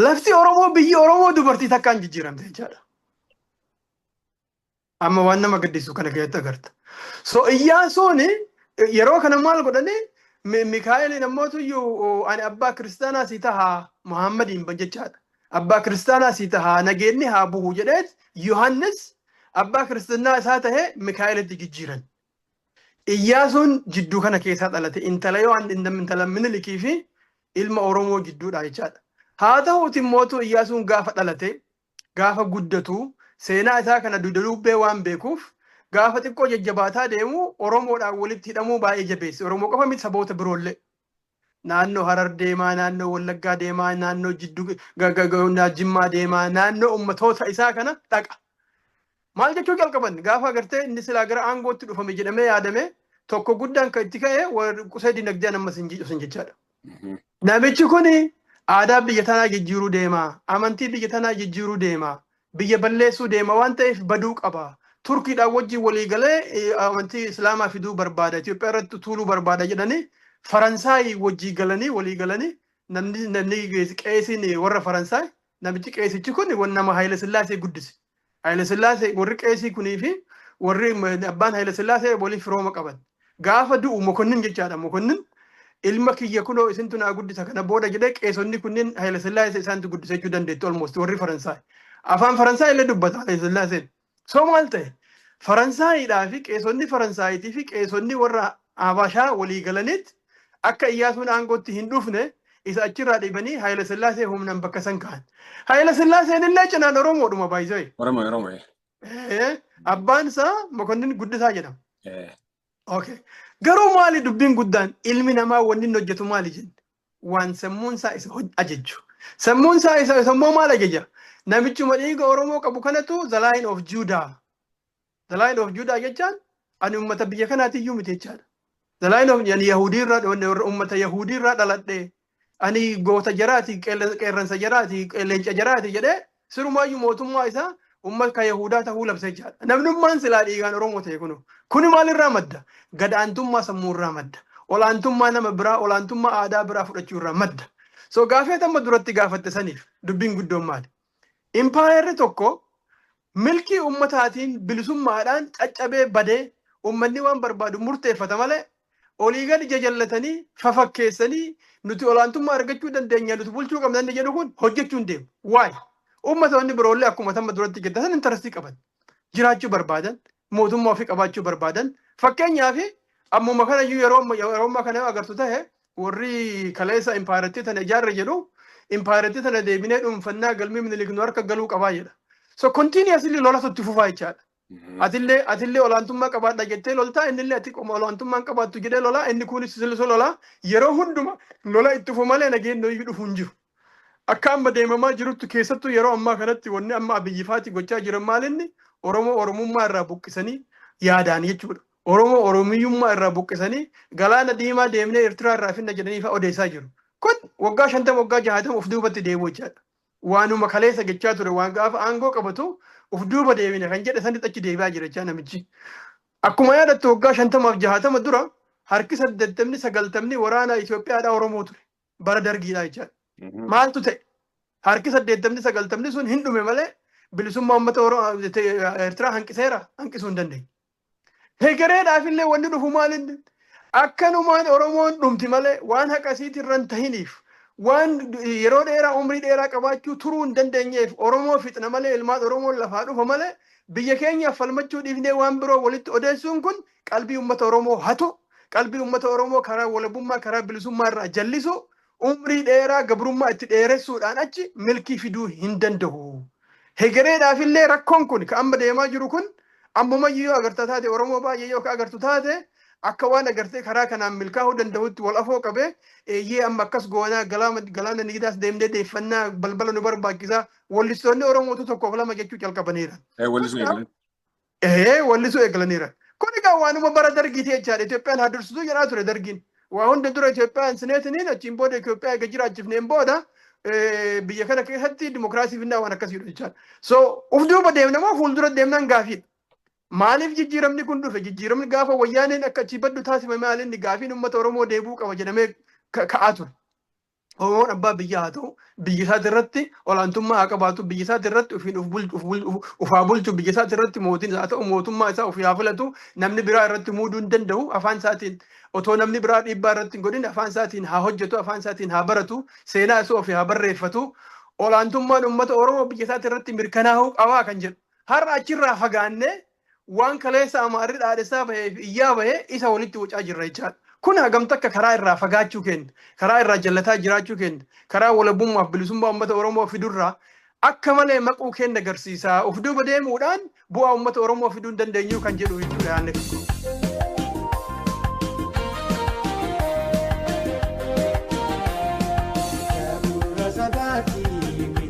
A: Lafti Oromoo biyyi Oromoo dubartii takkaan jijjiiramte jechaadha. Amma waan nama gaddisiisu kana keessatti agarta. So Iyyaasuun yeroo kana maal godhani Mi- Mikaa'eliin ammoo tuyyuu ani abbaa kiristaanaa si taha Muhammadiin ban jechaadha. Abbaa kiristaanaa si taha nageenni haa buhu jedheet Yohannis abbaa kiristaanaa isaa tahe Mikaa'elitti jijjiiran. Iyyaasuun jidduu kana keessaa dhalate intala yoo an intam- intala minilikii fi ilma Oromoo jidduudha jechaadha. Haa ta'uuti mootuu Iyyaasuun gaafa dhalate gaafa guddatu seenaa isaa kana dugda duubbee waan beekuuf gaafa xiqqoo jajjabaataa deemu Oromoodhaan walitti hidhamuu baay'ee jabeesse. Oromoo qofa miti saboota biroollee. Naannoo Harar deemaa, naannoo Wallaggaa deemaa, naannoo Jiddu Jimmaa deemaa, naannoo ummatoota isaa kana dhaqa. Maal jechuu jalqaban gaafa agartee inni silaa gara aangootti dhufame jedhamee yaadame tokko guddaan kan itti ka'e warra qusee dinagdeen ammas hin jijjiiru jechaadha. Namichi kun aadaa biyya tanaa jijjiiruu deema, amantii biyya tanaa jijjiiruu deema, biyya balleessuu deema waan ta'eef baduu qaba. Turkiidhaan wajjin walii galee eh, amantii Islaamaa fiduu barbaada, Itoophiyaa irratti tuuluu barbaada jedhanii Faransaay wajjin galanii walii galanii namni namni qeesiin warra Faransaay Namichi qeesichi kun wan nama Haayila Sillaasee guddise. Haayila Sillaasee warri qeesii kunii fi warri m- abbaan Haayila Sillaasee waliin firooma qaban. Gaafa du'u mokonnin jechaadha. Mokonnin ilma kiyya kunoo isintu naa guddisa kana booda jedhee qeesonni kunniin Haayila Sillaasee isaantu guddisa jechuu dandeetti almost warri Faransaay. Afaan Faransaay illee dubbata Haayila Sillaaseen. So maal ta'e? Faransaayiidhaa fi qeesonni Faransaayiitii fi qeesonni warra Habashaa walii galaniit akka Iyyaasuun aangootti hin dhufne isa achirraa dhibanii Hayilasillaasee humnaan bakka san ka'an. Hayilasillaaseen illee cinaan Oromoodhuma by the way. Oromo Oromo.
B: Eh,
A: Abbaan isaa Mokonnin Guddisaa jedhama. Eh. Okay. Garuu maali dubbiin guddaan ilmi namaa wanni inni hojjetu maali jenne? waan sammuun isaa isa hoj- ajajju. Sammuun isaa isa isa immoo maal ajaja? Namichuma dhiiga Oromoo qabu kanatu the line of Judah. The line of Judah jechaan ani uummata biyya kanaati iyyuu miti jechaadha. The line of ani Yahudii irraa dhoonne warra uummata Yahudii irraa dhaladhe. Ani goota jaraati, qeerran- qeerransa jaraati, leenca jaraati jedhee Sirumaayyu mootummaa isaa ummat ka Yahuudaa tahuu labsee jira. Namnummaan silaa dhiigaan Oromoo tahe kuno. Kuni maalirraa madda? Gad aantummaa sammuu irraa madda. Ol aantummaa nama biraa, ol aantummaa aadaa biraa fudhachuu irraa madda. So gaafii ati amma duratti gaafatte saniif dubbiin guddoon maali? Impaayerri tokko milkii ummataatiin bilisummaadhaan caccabee badee ummanni waan barbaadu murteeffata malee olii gadi jajallatanii fafakkeessanii nuti olaantummaa argachuu dandeenya nuti bulchuu qabna inni jedhu kun hojjechuu hin deemu. Waay uummata wanni biroollee akkuma tamma duratti gaddasan intarastii qaban jiraachuu barbaadan mootummaa ofii qabaachuu barbaadan fakkeenyaaf ammuma kana iyyuu yeroo amma- yeroo ammaa kana yoo agartu ta'e warri kaleessa impaayerattii tana ijaarre jedhu impaayerattii tana deebinee dhuunfannaa galmii minilik nu harka galuu qabaa jedha. So continuously lolatu itti fufaa jechaadha. Atillee atillee olaantummaa qabaadha jettee loltaa innillee ati qoma olaantummaan qabaattu jedhee lolaa inni kunis silisu lolaa yeroo hunduma lola itti fufu malee nageenyi hoyyuu dhufu hin jiru. Akka amma deemamaa jirutti keessattuu yeroo ammaa kanatti wanni amma abiyyi faati gochaa jiran maalinni Oromoo Oromummaa irraa buqqisanii yaadaan jechuudha. Oromoo Oromiyyummaa irraa buqqisanii galaana diimaa deemnee Eertiraa irraa finna jedhanii fa'aa odeessaa jiru. Kun waggaa shantama waggaa jahaatama of duubatti deebi'u jechaadha. Waanuma kaleessa jechaa ture waan gaafa aangoo qabatu uf duuba deebina kan jedhe sanitti achi deebi'aa jira jechaa namichi. Akkuma yaadattu waggaa shantamaaf jahaatama dura harki saddeettamni sagaltamni waraanaa Itoophiyaadhaa Oromoo ture. Bara dargiidhaa jechaadha. Maaltu ta'e? Harki saddeettamni sagaltamni sun hin dhume malee bilisummaa uummata Ertiraa hanqiseera hanqisuu hin dandeenye. Hegereedhaaf illee wanni dhufu maalinni akkanumaan Oromoon dhumti malee waan haqasiitii irra hin tahiniif waan yeroo dheeraa umrii dheeraa qabaachuu turuu hin dandeenyeef Oromoo fixna malee ilmaan Oromoon lafaa dhufa malee biyya keenyaaf falmachuu dhiifnee waan biroo walitti odeessuun kun qalbii uummata Oromoo hatu qalbii uummata Oromoo karaa walabummaa karaa bilisummaa irraa jallisu Umrii dheeraa gabrummaa itti dheeressuudhaan achi milkii fiduu hin danda'u. Hegereedhaaf illee rakkoon kun ka amma deemaa jiru kun ammumayyuu yoo agarta taate Oromoo baay'ee yoo ka agartu taate akka waan agartee karaa kanaan milkaa'uu danda'utti wal afoo qabee eeyyee amma akkas goonaa galaama galaana nigidaas deemnee deeffannaa balbala nu barbaachisaa wallistoonni Oromootu tokkoof lama jechuu calqabaniiran. Eh, wallisuu Kanaaf eegalan. Ehee wallisuu eegalaniiran. Kun egaa waanuma bara dargiiti jechaadha. Itoophiyaan haa dursituu jedhaa ture dargiin. Waa hunda dura Itoophiyaa hin sineetiniin achiin booda Itoophiyaa eega jiraachifneen booda eh, biyya kana keessatti dimokiraasii finnaa waan akkasiidha jechaadha. So uf duuba deemna moo fuuldura deemnaan gaafiidha. Maaliif jijjiiramni kun dhufe? Jijjiiramni gaafa wayyaaneen akka achii baddu taasifame maal inni gaafiin uummata Oromoo deebi'uu qaba jedhamee ka- ka'aa ture. Oromoon abbaa biyyaa haa ta'u, biyya isaati irratti olaantummaa haa qabaatu, biyya isaati irratti ofiin of bulchu, of bul- of- of haa bulchu, biyya isaati irratti mootiin isaa haa ta'u, mootummaa isaa ofii haa filatu, namni biraa irratti muuduu hin danda'u, afaan isaatiin otoo namni biraa dhiibbaa irratti hin godhin afaan isaatiin haa hojjetu, afaan isaatiin haa baratu, seenaa isaa ofii haa barreeffatu, olaantummaan uummata Oromoo biyya isaati irratti mirkanaa'uu qabaa kan jedhu. Har'a achirraa fagaannee waan kaleessa Amaarri dhaadhessaa bahee fi iyyaa bahee isa walitti wacaa jirra jechaadha. Kun hagam takka karaa irraa fagaachuu keenya, karaa irraa jallataa jiraachuu keenya, karaa walabummaaf bilisummaa uummata Oromoo fidurraa akka malee maquu keenya agarsiisa. Of duuba deemuudhaan bu'aa uummata Oromoo fiduu hin dandeenyu kan jedhu jechuudha yaadni kun.